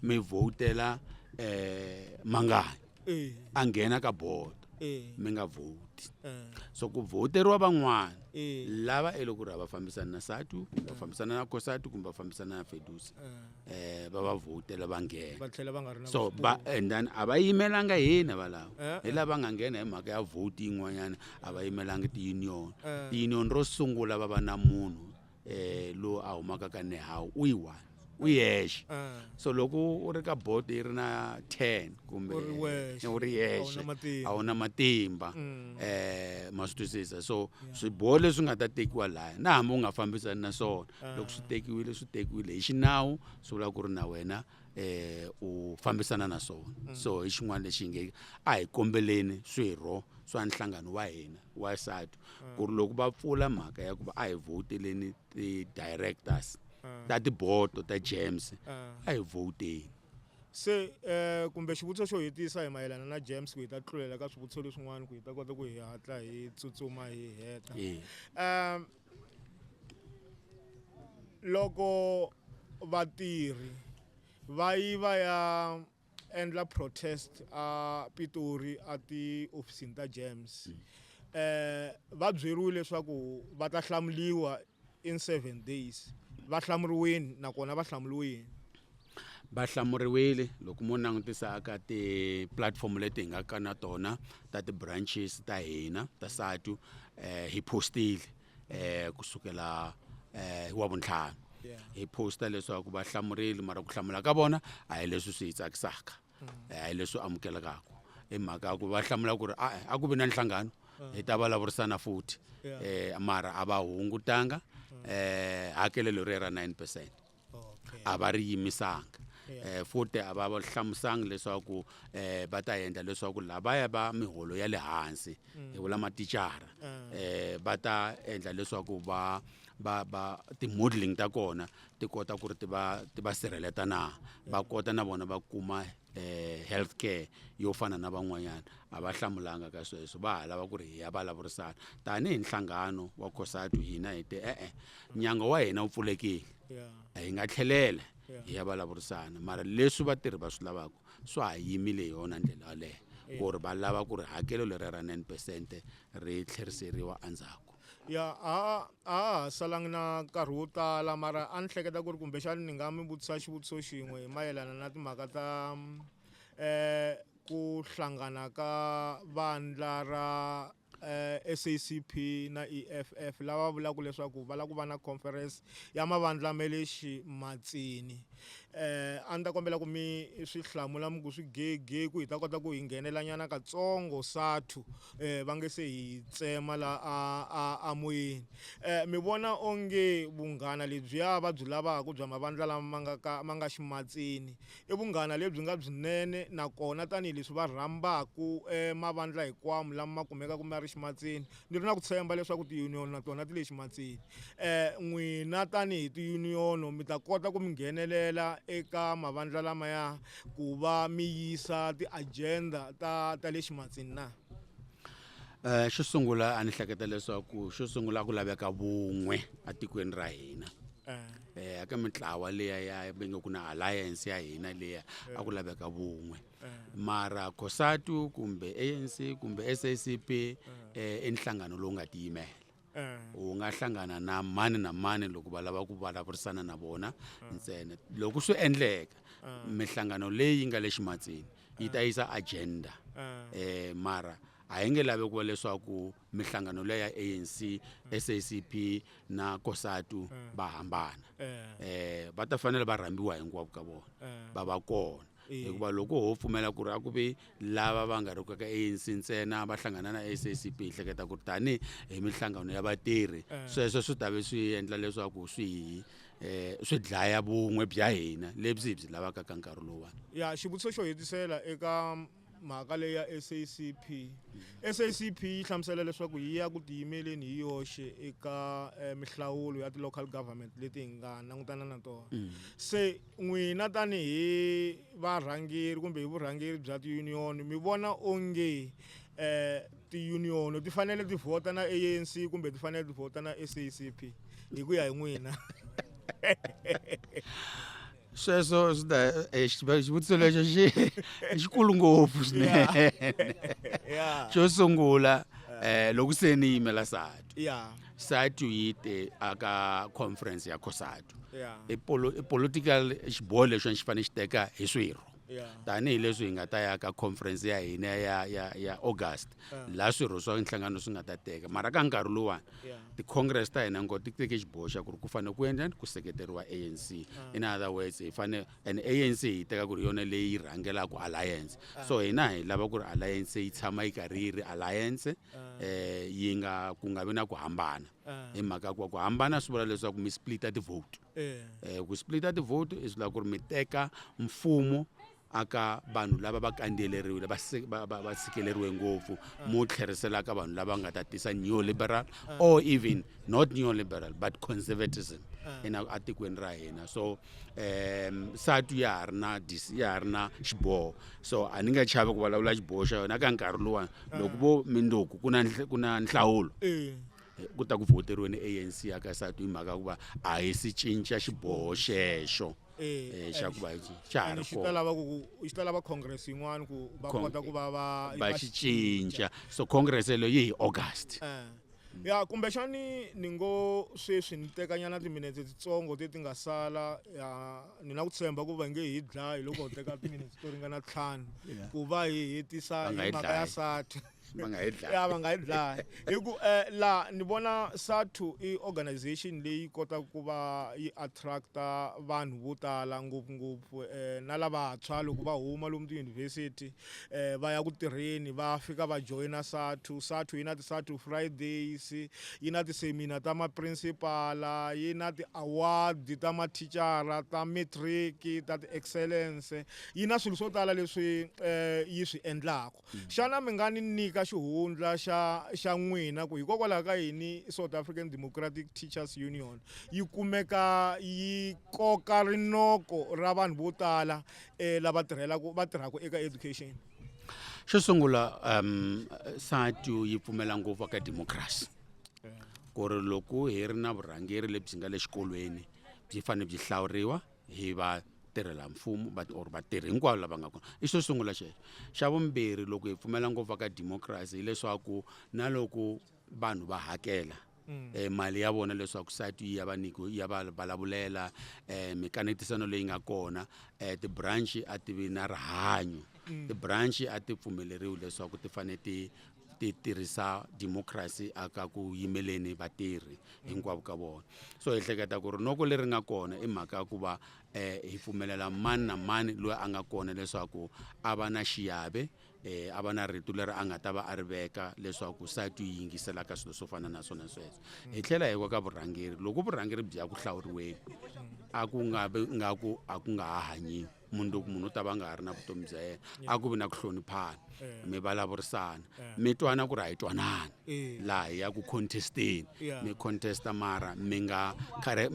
mi vhotela um mangani Eh. a nghena ka bodo Eh. mi nga vhoti Eh. so ku vhoteriwa van'wana Eh. lava e loko ri va fambisana na satu va fambisana na kosatu kumbe va fambisana na fedusa eh va va vhotela va nghena va tlhela va nga ri na so vuswikoti. ba and then a va yimelanga hina valava Eh, hi lava nga nghena hi mhaka ya vhoti yin'wanyana a va yimelanga ti-union Eh. ti-union ro sungula va va na munhu eh lo a humaka ka nehawu u yi one u yexe Ah. so loko u ri ka boto yi ri na 10 kumbe U ri wexe, u ri a wu na yexe matimba. a wu na matimba Mm. eh ma swi twisisa so swiboho leswi nga ta tekiwa laya na hambi u nga fambisani na swona loko swi tekiwile swi tekiwile hi xinawu swi vula ku ri na wena eh u fambisana na swona so hi xin'wana lexi nge a hi kombeleni swirho swa nhlangano wa hina wa SADTU ku ri loko va pfula mhaka ya ku va a hi vhowuteleni ti-directors ta tibodo ta gems a hi vhowuteni se um kumbe xivutiso xo hetisa hi mayelana na gems ku hi ta tlulela ka swivutiso leswin'wana ku hi ta kota ku hi hatla hi tsutsuma hi heta um loko vatirhi va yi va ya endla protest a Pitori a tihofisini ta James eh va byeriwile leswaku va ta hlamuriwa in 7 days va hlamuriwini nakona va hlamuriwe yini va hlamuriwile loko mo langutisa aka ti-platform leti hi nga ka na tona ta ti-branches ta hina ta satu um hi postile eh kusukela eh wa vuntlhanu hi posta leswaku va hlamureli mara ku hlamula ka vona a hi leswi swi hi tsakisaka mm. eh, a hi leswi amukelekaka i mhaka ya ku va hlamula ku ri a eh, a ku vi na nhlangano mm. hi ta vulavurisana futhi um mara a va hungutanga um hakelelo ri ya ra nine percent a va ri yimisanga um futhi a va hlamusanga leswaku um va ta endla leswaku lavaya va miholo ya le hansi mm. hi vula matichara um eh. va ta endla leswaku va va va ti-modeling ta kona ti kota ku ri ti va ti va sirheleta na va kota na vona va kuma eh health care yo fana na van'wanyana a va hlamulanga ka sweswo va ha lava ku ri hi ya vulavurisana tanihi nhlangano wa cosatu hina hi te e-e nyango wa hina wu pfulekile hi nga tlhelela hi ya vulavurisana mara leswi vatirhi va swi lavaka swa ha yimile hi yona ndlela yaleyo ku ri va lava ku ri hakelo leri ra nine percent ri tlheriseriwa endzhaku ya a a ha salangi na nkarhi wo tala mara a ni hleketa ku ri kumbexani ni nga mi vutisa xivutiso xin'we hi mayelana na timhaka ta um ku hlangana ka vandla ra eh, SACP na EFF lava vulaka leswaku va lava ku va na conference ya mavandla ma le ximatsini eh a ni ta kombela ku mi swi hlamula mi ku swi gege ku hi ta kota ku hi nghenelanyana katsongo sathu eh, va nge se hi tsema la a, a, a moyeni eh, mi vona onge vunghana lebyiya va byi lavaka bya mavandla lama ma nga ka ma nga ximatsini i vunghana lebyi nga byinene nakona tanihileswi va rhambaka eh, mavandla hikwamo lama ma kumekaka ma ri ximatsini ni ri na ku tshemba leswaku tiyuniyoni na tona ti le ximatsini eh, n'wina tanihi tiyuniyono mi ta kota ku mi nghenelela eka mavandla lamaya ku va mi yisa ti-agenda ta ta le ximatsini na um xo sungula a ni hleketa leswaku xo sungula ku laveka vun'we etikweni ra hina um eh, ka mitlawa leya ya venge ku na alliance ya hina leya a ku laveka vun'we mara cosatu kumbe anc kumbe sacp um i nhlangano lowu nga tiyimela u nga hlangana na mani na mani loko va lava ku vulavurisana na vona ntsena loko swi endleka mihlangano leyi nga le ximatsini yi ta yisa agenda um mara a yi nge lavi ku va leswaku mihlangano leyi ya anc sacp na kosatu va hambana um va ta fanele va rhambiwa hinkwavo ka vona va va kona hikuva loko ho pfumela ku ri a ku ve lava va nga ri ku ka ANC ntsena va hlangana na SACP hi hleketa ku ri tanihi hi minhlangano ya vatirhi eh. sweswo swi ta ve swi endla leswaku swi hi eh, swi dlaya vun'we bya hina lebyi hi byi lavaka ka nkarhi lowuwani ya xivutiso xo hetisela eka mhaka leyi ya SACP SACP yi hlamusela leswaku yi ya ku tiyimeleni hi yoxe eka eh, mihlawulo ya ti-local government leti hi nga langutana na tona mm. se n'wina tanihi varhangeri kumbe hi vurhangeri bya tiunion mi vona onge eh tiunion ti fanele ti vhota na ANC kumbe ti fanele ti vhota na SACP hi ku ya hi n'wina sweswo swi ta eh, xivutiso lexo xi xikulu ngopfu swinene xo sungula um loko se ni yimela sati sati yi te aka conference ya cosat yeah. i political xiboho lexi xi fanele xi teka hi swirho tanihileswi hi nga ta ya ka conference ya hina ya ya ya august laha swirho swa nhlangano swi nga ta teka mara ka nkarhi lowani ti-congress ta hina ngo ti teke xiboho xa ku ri ku fanele ku endlani ku seketeriwa anc in other words hi fanele and anc hi teka ku ri yona leyi rhangelaka alliance so hina hi lava ku ri alliance yi tshama yi karhi yi ri alliance um yi nga ku nga vi na ku hambana ah. hi mhaka ku ku hambana swi vula leswaku mi splita ti-vote eh. eh, ku splita ti-vote i swi lava ku ri mi teka mfumo aka vanhu lava va kandeleriwile va sikeleriwe ngopfu ah. mo tlherisela ka vanhu lava nga ta tisa neoliberal ah. or even not neoliberal but conservatism ah. ena atikweni ra hina so um satu ya ha ri na ya ha ri na xiboho so a ni nga chavi ku vulavula xiboho xa yona ka nkarhi luwani loko vo mindzuku ku na ku na nhlawulo eh. eh, ku ta ku voteriweni anc ya ka satu hi mhaka ya ku va a hi si cinca xiboho xexo Eh, eh, xa ku va xa ha ri xi ta lava congress yin'wana ku va kota ku va va va xi cinca so congress leyo yi hi august eh. ya kumbexani ni ngo sweswi ni tekanyana timinetse titsongo ti ti nga sala ya ni na ku tshemba ku va nge hi dlayi loko ho teka timinetse to ringana ntlhanu ku va hi hetisa hi mhaka ya sati ya va nga yi dlayi hi ku um laha ni vona sathu i organization leyi kotaka ku va yi attract-a vanhu vo tala ngopfungopfu um na lavantshwa loko va huma lomu tiyunivhesiti eh, va ya ku tirheni va fika va joyina sathu sathu yi na ti-sathu fridays yi na tisemina ta maprincipala yi na ti-award ta mathicara ta matric ta ti-excellence yi na swilo swo tala leswi eh, yi swi endlaka mm. xana mi nga ni nyika xihundla xa xa n'wina ku hikokwalaho ka yini south african democratic teachers union yi kumeka yi koka rinoko ra vanhu vo tala e lava tirhelaka va tirhaka eka education xo sungula um sati yi pfumela ngopfu ka democracy ku ri loko hi ri na vurhangeri lebyi nga le xikolweni byi fanele byi hlawuriwa hi va tirhela mfumo but or vatirhi hinkwavo lava nga kona i xo sungula xexo xa vumbirhi loko hi pfumela ngopfu ka democracy hileswaku na loko vanhu va hakela mm. eh, mali ya vona leswaku site yi ya va niko ya va vulavulela eh, mikanetisano leyi nga kona eh, ti-branch a ti vi na rihanyo mm. ti-branch a ti pfumeleriwi leswaku ti fanele ti ti tirhisa democracy aka ku yimeleni vatirhi hinkwavo ka vona so hi hleketa ku ri noko leri nga kona i mhaka ya ku va um hi pfumelela mani na mani loyi a nga kona leswaku a va na xiave e a va na rito leri a nga ta va a ri veka leswaku sati yi yingisela ka swilo swo fana na swona sweswo hi tlhela hi wa ka vurhangeri loko vurhangeri byi ya ku hlawuriweni a ku nga vi nga ku a ku nga ha hanyiwi munhu loko munhu u ta va nga ha ri na vutomi bya yena a ku vi na ku hloniphana mi vulavurisana mi twana ku ri a yi twanani laha hi ya ku contesteni mi contesta mara mi nga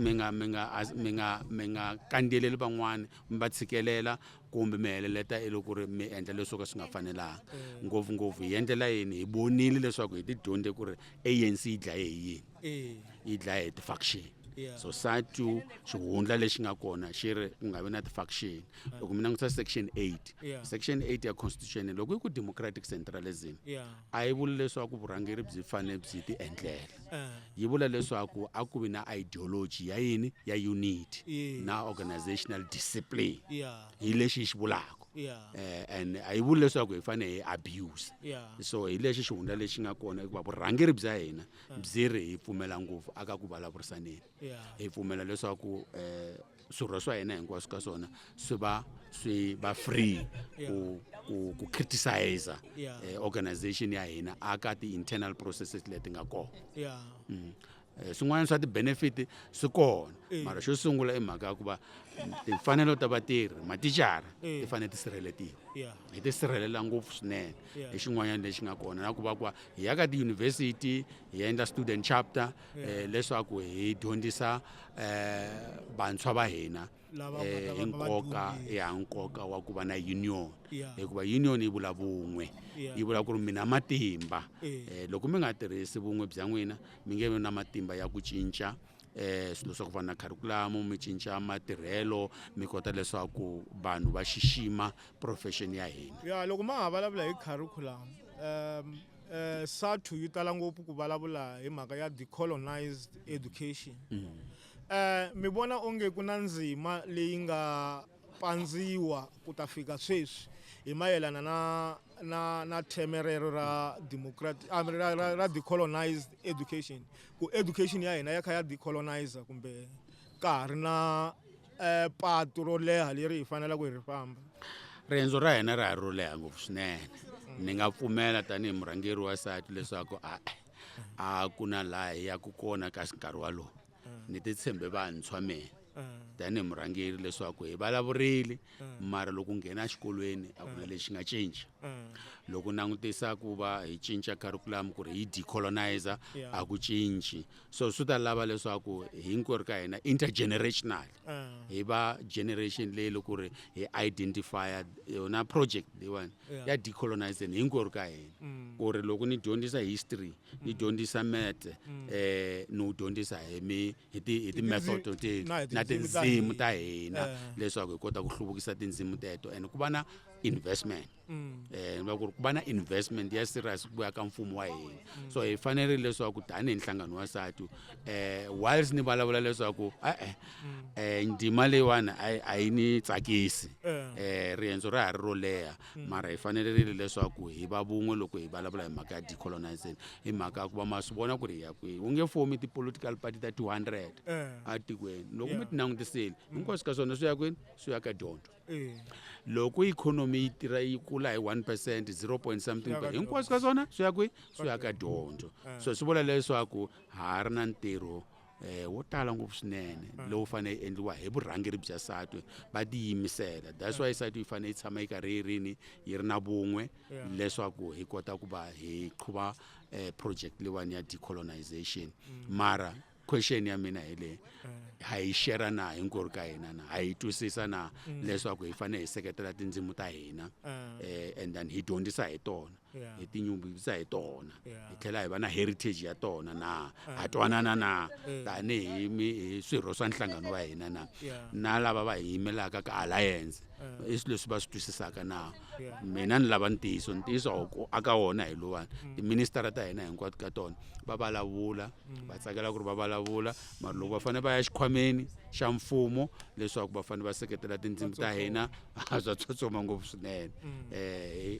mi nga mi nga mi nga mi nga kandziyeleli van'wana mi va tshikelela kumbe mi heleleta i loko ri mi endla leswo ka swi nga fanelanga ngopfungopfu hi endlela yini hi vonile leswaku hi tidyondze ku ri anc yi dlaye hi yini eh yi dlaye hi ti-faction Yeah. so satu xihundla lexi nga kona xi ri ku nga vi na ti-faction loko mi langutisa section eight Yeah. section eight ya constitution loko yi ku democratic centralism yeah a yi vuli leswaku vurhangeri byi fanele byi ti endlela eh. yi vula leswaku a ku vi na ideology ya yini ya unity yeah. na organizational discipline yeah. hi lexi yi xi vulaka yeah. eh, and a yi vuli leswaku hi fanele hi abuse yeah. so hi lexi xihundla lexi nga kona hikuva vurhangeri bya hina byi ri hi pfumela ngopfu aka ku vulavurisaneni hi pfumela leswaku um swirho swa hina hinkwaswo ka swona swi va swi va free ku ku ku criticize eh, organization ya hina aka ti-internal processes leti nga kona mm. eh, swin'wana swa ti-benefit swi kona eh. mara xo sungula i mhaka ya ku va timfanelo ta vatirhi maticara ti fanele ti sirheletiwa hi ti sirhelela ngopfu swinene hi xin'wanyana lexi nga kona na ku va ku va hi ya ka tiyunivhesiti hi endla student chapter eh, leswaku hi dyondzisa eh, vantshwa va hina eh, hi nkoka ya nkoka wa ku va na union hikuva union yi vula vun'we yi vula ku ri mina matimba eh, loko mi nga tirhisi vun'we bya n'wina mi nge vi na matimba ya ku cinca eh swilo swa ku fana na kharikhulamu mi cinca matirhelo mi kota leswaku vanhu va xixima profession ya hina ya loko ma ha vulavula hi kharikhulamu um Eh, SADTU yi tala ngopfu ku vulavula hi mhaka ya decolonized education mm. eh, mi vona onge ku na ndzima leyi nga pandziwa ku ta fika sweswi hi mayelana na na na theme rero ra democratic ah, ra, ra, ra decolonized education ku education ya hina ya kha ya decolonizer kumbe ka ha ri na um patu ro leha leri hi fanelaka hi ri famba riendzo ra hina ra ha ro leha ngopfu swinene ni nga pfumela tanihi murhangeri wa sati leswaku a a ku na laha hi yaku kona ka nkarhi walowo ni titshembe vantshwa mina tanihi murhangeri leswaku hi vulavurile mara loko nghena exikolweni a ku na lexi nga cinca loko langutisa ku va hi cinca curriculum ku ri hi decolonizer a ku cinci so swi ta lava leswaku hinkwerhu ka hina intergenerational hi va generation leyi loko ri hi identifya yona project leyiwani ya decolonization hinkwerhu ka hina mm. ku ri loko ni dyondzisa history ni mm. dyondzisa mete mm. eh ni wu dyondzisa hi mi hi ti hi ti-method na tindzimi ta hina leswaku hi kota ku hluvukisa tindzimi teto and ku va na investment um va ku ri ku va na investment ya serious ku ya ka mfumo wa hina mm. so hi fanerile leswaku tanihi nhlangano wa sati um eh, whiles ni vulavula leswaku e-e um eh, ndima leyiwani a yi ni tsakisi um riendzo ra ha ri ro leha mm. mara hi fanerile leswaku hi va vun'we loko hi vulavula hi mhaka ya decolonization hi mhaka ya ku va ma swi vona ku ri hi ya kwihi u nge fomi ti-political party ta two hundred etikweni loko mi ti langutisile hinkwaswo ka swona swi ya kwini swi ya ka dyondzo loko ikhonomi yi tirha yi kula hi 1 percent 0 point something hinkwaswo ka swona swi ya kwi swi ya ka dyondzo eh. so swi vula leswaku ha ri na ntirho eh wo tala ngopfu swinene eh. lowu fanele yi endliwa hi vurhangeri bya satwe va tiyimisela that's eh. why satwe yi fanele yi tshama yi karhi yi rini yi ri na vun'we leswaku hi kota ku va hi qhuva eh project leyiwani ya decolonization mm. mara question ya mina hi leyi ha yi shera na hinkwerhu ka hina na ha yi twisisa na mm. leswaku hi fanele hi seketela tindzimu ta hina ah. eh, and then hi dyondzisa hi tona hi tinyungubyisa hi tona hi tlhela hi va na heritage ya tona na ha ah. twanana na eh. tanihi swirho swa nhlangano wa hina na na lava va hi yimelaka ka alliance eh. i swilo leswi va swi twisisaka na mina ni lava ntiyiso ntiyiso aka wona hi lowani mm. tiministara ta hina hinkwato ka tona va vulavula va tsakela ku ri va vulavula mara loko va fanele va ya xikhwameni xa mfumo leswaku va fanele va seketela tindzimi ta hina a bya tsotsoma ngopfu swinene um hi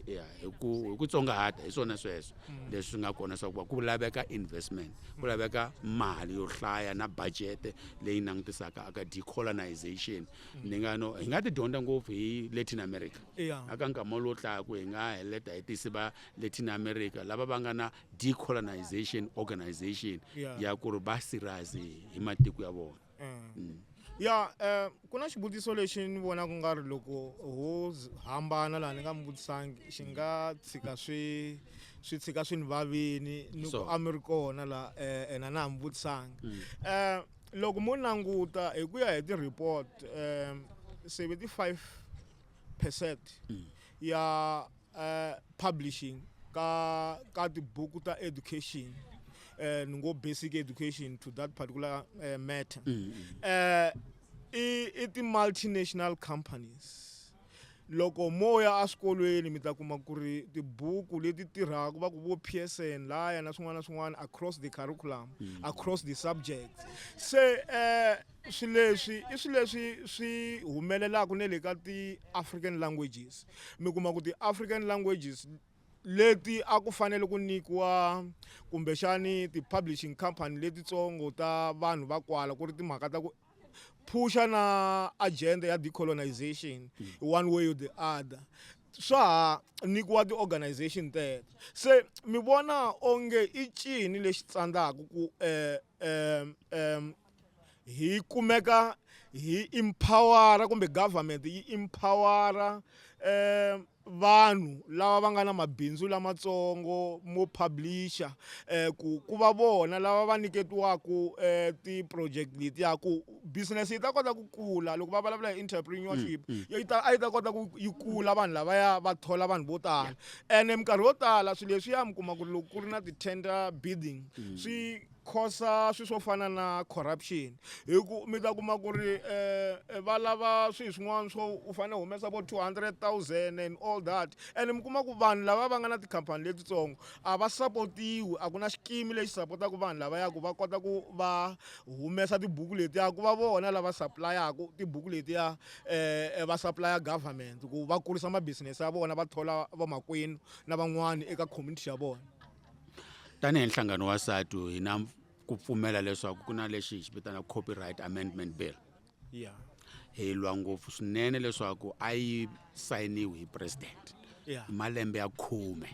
ku hi ku tsongahata hi swona sweswo leswi nga kona swa ku va ku laveka investment ku laveka mali yo hlaya na budget leyi langutisaka aka decolonization ni nga no hi nga ti dyondza ngopfu hi latin america aka nkama lowu tlaka hi nga heleta hi tisi va latin america lava va nga na decolonization organization yeah. ya ku ri va sirazi hi matiko ya vona eh. mm. ya eh, ku na xivutiso lexi ni vona ku nga ri loko ho hambana laha ni nga mi vutisangi xi nga tshika swi swi tshika swi ni vavini ni ku a mi ri kona la eh, ena na ha mi vutisangi um mm. loko mo languta hi ku ya hi ti-report um seventy five percent mm. ya uh, publishing ka ka tibuku ta education eh ngo basic education to that particular uh, matter mm -hmm. eh uh, i ti multinational companies loko mo ya eswikolweni mi ta kuma ku ri tibuku leti tirhaka va ku vo psn laya na swin'wana na swin'wana across the curriculum mm. across the subjects se um swi leswi i swi leswi swi humelelaka ne le ka ti-african languages mi kuma ku ti-african languages leti a ku fanele ku nyikiwa kumbexani ti-publishing company letitsongo ta vanhu va kwala ku ri timhaka ta ku phusha na agenda ya decolonization hmm. one way or the other swa ha nyikiwa ti-organization teto se mi vona onge i cini lexi tsandzaka ku um um um hi kumeka hi empower-a kumbe government yi empower-a vanhu lava va nga na mabindzu lamatsongo mo publish-a ku ku va vona lava va nyiketiwaku ti-project letiya ku business yi ta kota ku kula loko va vulavula hi entrepreneurship mm, mm. yi ta a yi ta kota ku yi kula vanhu lavaya va thola vanhu vo tala ene minkarhi yo tala swilo leswiya mi kuma ku ri loko ku ri na ti-tender bidding mm. swi khosa swilo swo fana na corruption hi ku mi ta kuma ku ri um va lava swilo swin'wana swo u fanele humesa vo two hundred thousand and all that ene mi kuma ku vanhu lava va nga na tikhampani letitsongo a va sapotiwi a ku na xikimi lexi sapotaka vanhu lava yaku va kota ku va humesa tibuku letiya ku va vona lava sapulayaku tibuku letiya um va sapulaya government ku va kurisa mabisinesi ya vona va thola vamakwenu na van'wana eka community ya vona tanihi nhlangano wa satu hi na ku pfumela leswaku ku na lexi hi xi vitana copyright amendment bill ya hi lwa ngopfu swinene leswaku a yi sayiniwi hi president ya hi malembe ya khume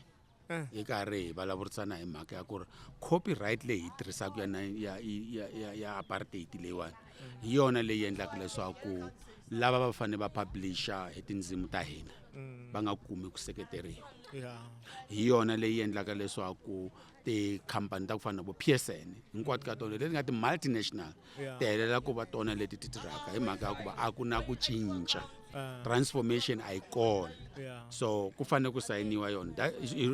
Eh. hi karhi hi vulavurisana hi mhaka ya ku ri copyright leyi hi yi tirhisaka ya, nine- ya, ya, ya, ya apartheid leyiwani hi yona leyi endlaka leswaku lava va fanele va publisha hi tindzimi ta hina mm. va nga kumi ku seketeriwa hi yona leyi endlaka leswaku tikhampani ta ku fana na vo psn hinkwato ka tona leti nga ti-multinational ti helela ku va tona leti ti tirhaka hi mhaka ya ku va a ku na ku cinca ah. transformation a yi kona so ku fanele ku sayiniwa yona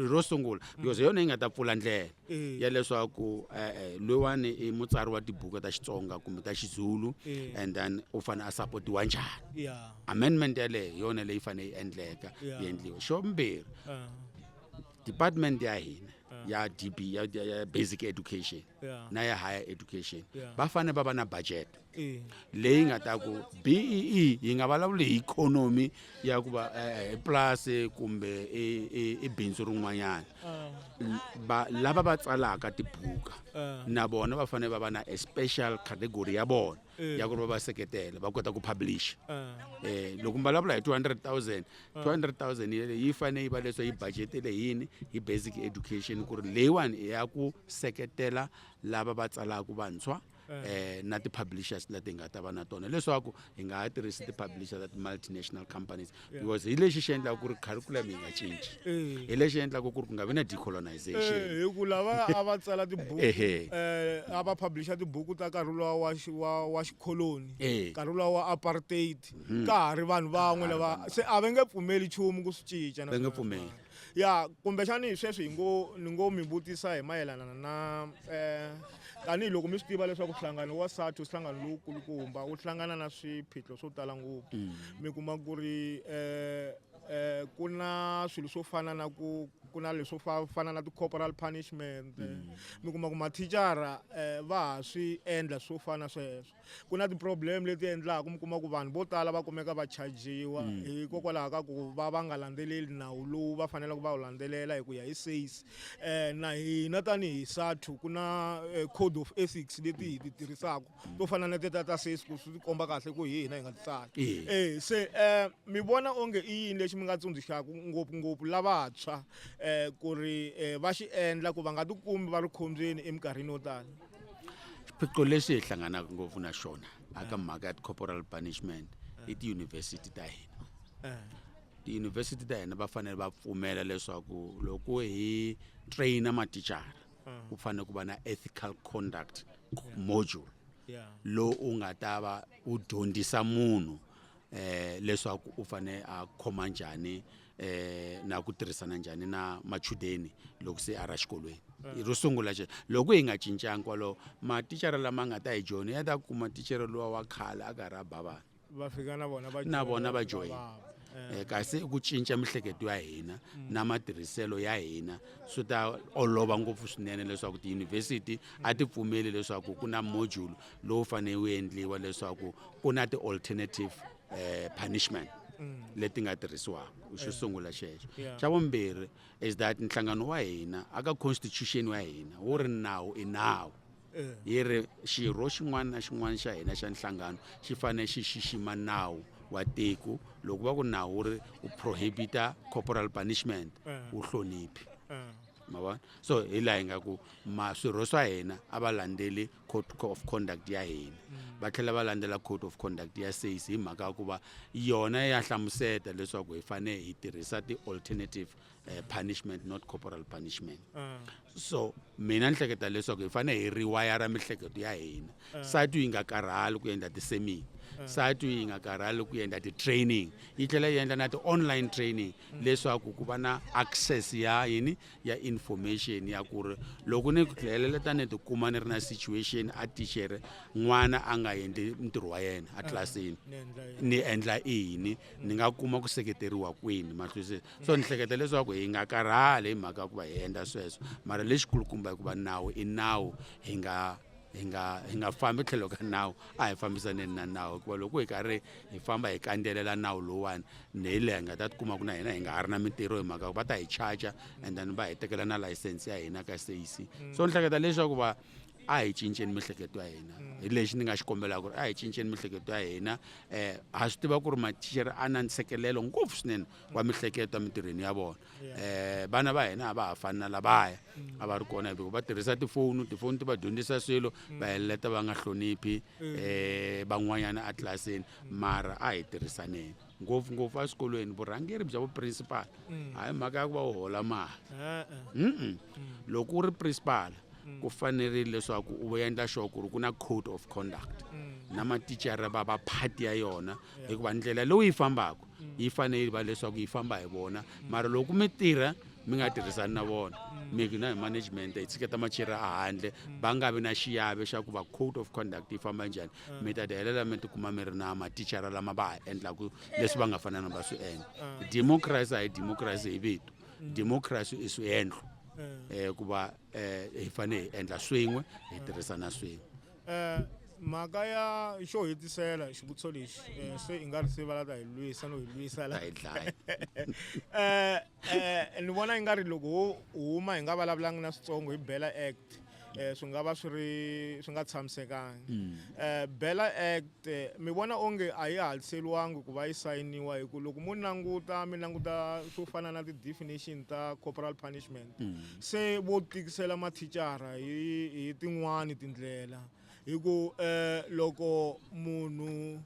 ro sungula because hi yona yi nga ta pfula ndlela Eh. ya leswaku e-e loyiwani i mutsari wa tibuku ta xitsonga kumbe ta xizulu Eh. and then u fanele a sapotiwa njhani ya amendment yaleyo hi yona leyi fanele yi endleka Yeah. yi endliwa xo mbirhi ah, department ya hina ya db ya, ya, ya basic education Yeah. na ya higher education Yeah. va fanele va va na budget leyi nga ta ku bee yi nga vulavuli hi ikhonomi ya ku va eh, pulasi kumbe i bindzu rin'wanyana ah. lava va tsalaka tibuka ah. na vona va fanele va va na a special category ya vona eh. ya ku ri va va seketela va kota ku publish ah. eh loko mi vulavula hi 200 000 200 000 yele yi fanele yi va leswo yi budgetele yini hi basic education ku ri leyiwani i ya ku seketela lava va tsalaka vantshwa eh na ti-publishers leti hi nga ta va na tona leswaku hi nga ha tirhisi ti-publishers ta ti-multinational companies because hi lexi xi endlaka ku ri curriculum yi nga cinci hi lexi endlaka ku ri ku nga vi na decolonization Eh, hi ku lava a va tsala tibuku Ehe. eh, a va publisha tibuku ta nkarhi luwa wa xi- wa- wa xikholoni Eh. nkarhi luwa wa apartheid ka ha ri vanhu van'we lava se a va nge pfumeli nchumu ku swi cinca na va nge swona. pfumeli ya kumbexani sweswi hi ngo ni ngo mi vutisa hi mayelana na um eh, tanihiloko mi swi tiva leswaku nhlangano wa sati nhlangano lowukulukumba wu hlangana na swiphiqo swo tala ngopfu mm. mi kuma ku ri um um ku na swilo swo fana na ku ku na leswo fana na ti-corporal punishment mm. mi kuma ku mathicara um va ha swi endla swo fana sweswo ku na ti-problem leti endlaka mi kuma ku vanhu vo tala va kumeka va chajiwa mm. hikokwalaho ka ku va va nga landzeleli nawu lowu va faneleke va wu landzelela hi ku ya hi sais um eh, na hina tanihi sathu ku na eh, code of ethics leti hi ti tirhisaka to fana na teta ta sais ku swi komba kahle ku hi hina hi nga ti tsali um se um mi vona onge i yini lexi mi nga tsundzuxaka ngopfungopfu lavantshwa um ku ri um va xi endla ku va nga tikumi va ri khombyeni eminkarhini yo tala swiphiqo leswi hi hlanganaka ngopfu na xona aka mhaka ya ti-corporal punishment i tiyunivhesiti ta hina tiyunivhesiti ta hina va fanele va pfumela leswaku loko hi traina matichara ku fanele ku va na ethical conduct module lowu u nga ta va u dyondzisa munhu eh leswaku u fane a khoma njhani eh na ku tirhisana njhani na machudeni loko se a ra xikolweni eh. ro sungula xe loko hi nga cincanga kwalowo mathicara lama nga ta hi joni ya ta kuma tichere lowa wa khale a karhi a ba vana va fika na vona va na vona va joyina eh. eh, kasi ku cinca mihleketo ya hina mm. na matirhiselo ya hina swi ta olova ngopfu swinene leswaku tiyunivhesiti a ti pfumeli leswaku ku na module lowu fanele wu endliwa leswaku ku na ti-alternative eh, punishment mm. leti nga tirhisiwaka xo eh. sungula xexo xa vumbirhi is that nhlangano wa hina aka constitution wa hina wu ri nawu i nawu eh. yi ri xirho xin'wana na xin'wana xa hina xa nhlangano xi fanele xi xixima nawu wa tiko loko va ku nawu wu ri u prohibita corporal punishment wu hloniphi ma vona so hi laha hi nga ku ma swirho swa hina a va landzeli code of conduct ya hina mm. va tlhela va landzela code of conduct ya says hi mhaka ya ku va yona ya hlamuseta leswaku hi fanele hi tirhisa ti-alternative uh, punishment not corporal punishment mm. so mina ni hleketa leswaku hi fanele hi riwayara mihleketo ya hina mm. satu yi nga karhali ku endla ti-semina mm. satu yi nga karhali ku endla ti-training yi tlhela yi endla na ti-online training mm. leswaku ku va na access ya yini ya information ya ku ri loko ni ku dlayelela ta ni tikuma ni ri na situation a tichere n'wana a nga endli ntirho wa yena a tlilasini ni endla ini ni nga kuma ku seketeriwa kwini mahlusi so ni hleketa leswaku hi nga karhali hi mhaka ku va hi endla sweswo mara lexikulukumba hikuva nawu i nawu hi nga hi nga hi nga fambi tlhelo ka nawu a hi fambisaneni na nawu hikuva loko hi karhi hi famba hi kandzelela nawu lowuwani ni hi leha hi nga ta tikuma ku na hina hi nga ha ri na mintirho hi mhaka va ta hi charger and then va hi tekela na layisense ya hina ka sac so ni hleketa leswaku va a hi cinceni mihleketo ya hina hi lexi ni nga xi kombelaka ku ri a hi cinceni mihleketo ya hina um ha swi tiva ku ri matichere a na ntshikelelo ngopfu swinene wa mihleketo emintirhweni ya vona eh vana va hina a va ha fani na lavaya a va ri kona hikuva va tirhisa tifoni tifoni ti va dyondzisa swilo va heleleta va nga hloniphi eh van'wanyana etlilasini mara a hi tirhisaneni ngopfungopfu eswikolweni vurhangeri bya vuprincipal hayi mhaka ya ku va u hola mali mm loko u ri principal ku fanerile leswaku u endla sure ku ri ku na code of conduct na mathicara va va phati ya yona hikuva ndlela leyi yi fambaka yi fanele yi va leswaku yi famba hi vona mara loko mi tirha mi nga tirhisani na vona mi na hi management hi tshiketa machira a handle va nga vi na xiyave xa ku va code of conduct yi famba njhani mi ta tihelela mi tikuma mi ri na mathicara lama va ha endlaku leswi va nga fanana va swi endla democracy a hi democracy hi vito democracy i swiendlo um ku va um hi fanele hi endla swin'we hi tirhisana swin'we Eh, mhaka ya xo hetisela xivutiso lexi eh, se i nga ri se valata hi lwisa no hi lwisa la hi dlaya eh, eh, ni vona i nga ri loko ho huma hi nga vulavulangi na switsongo hi bela act eh, swi nga va swi ri swi nga tshamisekangi hmm. eh, bela act eh, mi vona onge a yi hatliseriwangi ku va yi sayiniwa hi ku loko mo languta mi languta swo fana na ti-definition ta corporal punishment se vo tikisela mathicara hi hi tin'wani tindlela hi ku um loko munhu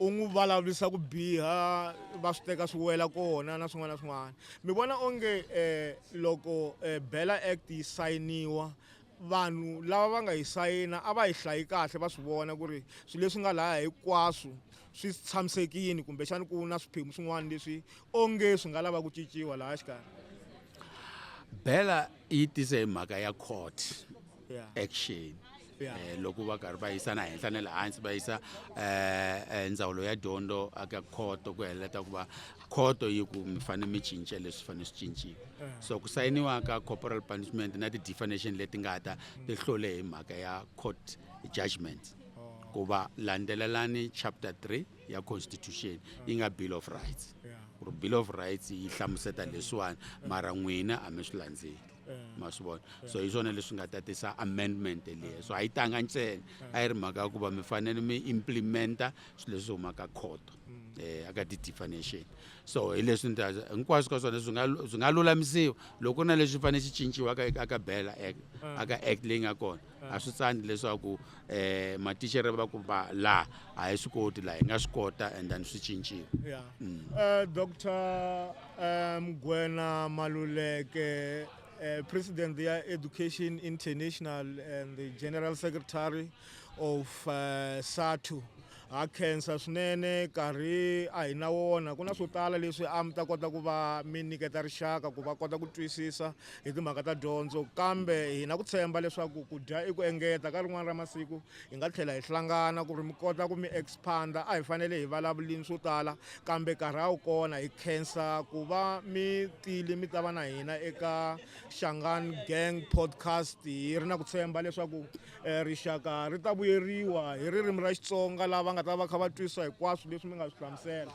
u n'wi vulavurisa ku biha va swi teka swi wela kona na swin'wana na swin'wana mi vona onge um loko um bela act yi sayiniwa vanhu lava va nga yi sayina a va yi hlayi kahle va swi vona ku ri swilo leswi nga laya hinkwaswo swi tshamisekile kumbexani ku na swiphemu swin'wana leswi onge swi nga lava ku cinciwa laha xikarhi bela yi tise hi mhaka ya court yeah. action Yeah. Eh, loko va karhi va yisa na henhla na le hansi va yisa eh, eh, ndzawulo ya dyondzo aka khoto ku heleta ku va khoto yi ku mi fanele mi cinca leswi fanele swi cinciwa eh. so ku sayiniwa ka corporal punishment na ti-definition leti nga ta ti hlole hi mhaka ya court judgment ku va landzelelani chapter 3 ya constitution yi nga bill of rights ku ri bill of rights yi hlamuseta leswiwani mara n'wina a mi swi landzeli ma swi vona so hi swona leswi nga ta tisa amendment leyi so a yi tanga ntsena a yi ri mhaka ya ku va mi fanele mi implementa swilo leswi humaka khoto um eh, aka ti-definition so hi leswi nita hinkwaswo ka swona swi nga swi nga lulamisiwa loko ku ri na leswi fanele swi cinciwaka aka bela act aka act leyi nga kona a swi tsandi leswaku eh matixere va ku va la a hi swi koti la hi nga swi kota and then swi cincile yeah. mm. uh, dr eh, mgwena um, maluleke uh, president ya education international and the general secretary of uh, satu Ha khensa swinene, nkarhi a hi na wona. Ku na swo tala leswi a mi ta kota ku va mi nyiketa rixaka ku va kota ku twisisa hi timhaka ta dyondzo, kambe hi na ku tshemba leswaku ku dya i ku engeta. Ka rin'wana ra masiku hi nga tlhela hi hlangana ku ri mi kota ku mi expand-a. A hi fanele hi vulavulini swo tala, kambe nkarhi a wu kona. Hi khensa ku va mi tile mi ta va na hina eka Shangani Gang Podcast. Hi ri na ku tshemba leswaku Eh, rixaka ri ta vuyeriwa hi ririmi ra xitsonga lava nga ta va kha va twisisa hinkwaswo leswi mi nga swi hlamusela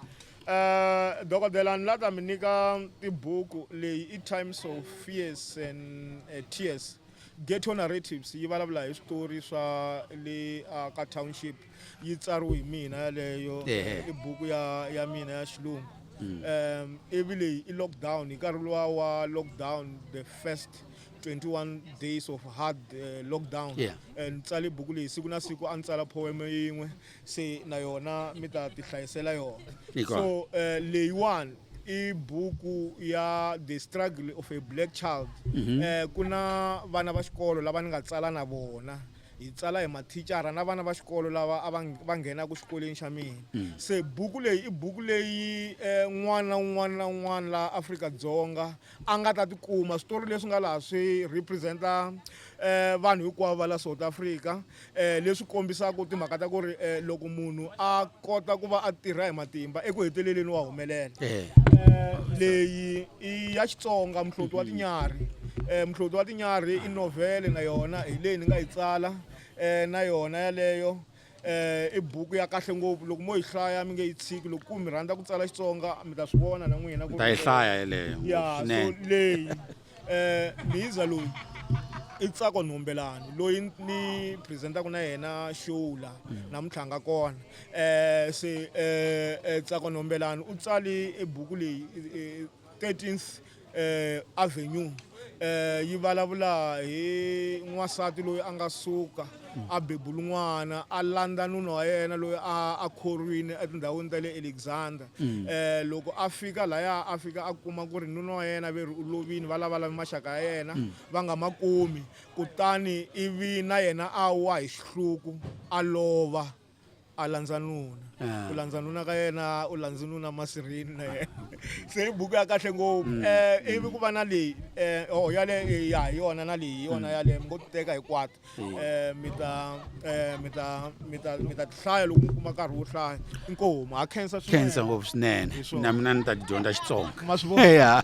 um dokodela ni la ta mi nyika tibuku leyi i times of fears and eh, tears ghetto narratives yi vulavula hi switori swa le ah, ka township yi tsariwe hi mina yaleyo i buku ya ya mina ya xilungu um ivi leyi i lockdown hi nkarhi luwa wa lockdown the first 21 days of hard uh, lockdown yeah. and tsale buku leyi siku na siku a ni tsala poeme yin'we se na yona mi ta tihlayisela yona so uh, leyiwani i buku ya the struggle of a black child mm -hmm. uh, ku na vana va xikolo lava ni nga tsala na vona hi tsala hi mathicara na vana va xikolo lava a va nghenaka xikolweni xa mina mm. se buku leyi i buku leyi um n'wana un'wana na un'wana laha afrika dzonga a nga ta tikuma switori leswi nga laha swi representa um vanhu hinkwavo va la south africa um leswi kombisaka timhaka ta ku ri um loko munhu a kota ku va a tirha hi matimba eku heteleleni wa humelela um leyi i ya xitsonga muhloti wa tinyarhi um muhloti wa tinyarhi i novhele na yona hi leyi ni nga yi tsala um na yona yaleyo eh i buku ya kahle ngopfu loko mo yi hlaya mi nge yi tshiki loko ku mi rhandza ku tsala xitsonga mi ta swi vona na n'wina ku ta yi hlaya yeleyo ya so swinene leyi eh miyiza loyi i tsako nhombelani loyi ni presentaka na yena show la namuntlha a nga kona eh se eh eh, tsako nhombelani u tsali e buku leyi eh, eh, 13th eh, Avenue eh, yi vulavula hi n'wansati loyi a nga suka a bebula n'wana a landza nuna wa yena loyi a a khorwini etindhawini ta le alexander um loko a fika laya a fika a kuma ku ri nuna wa yena ve ri u lovini va lavalami maxaka ya yena mm. va nga ma kumi kutani ivi na yena a wa hi xihluku a lova a landza nuna ah. u landza nuna ka yena u landzi nuna masirini na yena se i buku ya kahle ngopfu um mm. eh, ivi ku va na leyi um oh, yale eh, ya hi yona na leyi hi yona mm. yaleyo mi ngo ti teka hinkwato um mi ta um mi ta mi ta mi ta tihlaya loko mi kuma nkarhi wo hlaya inkomu ha khensa khensa ngopfu swinene na mina ni ta tidyondza xitsonga ma swi vona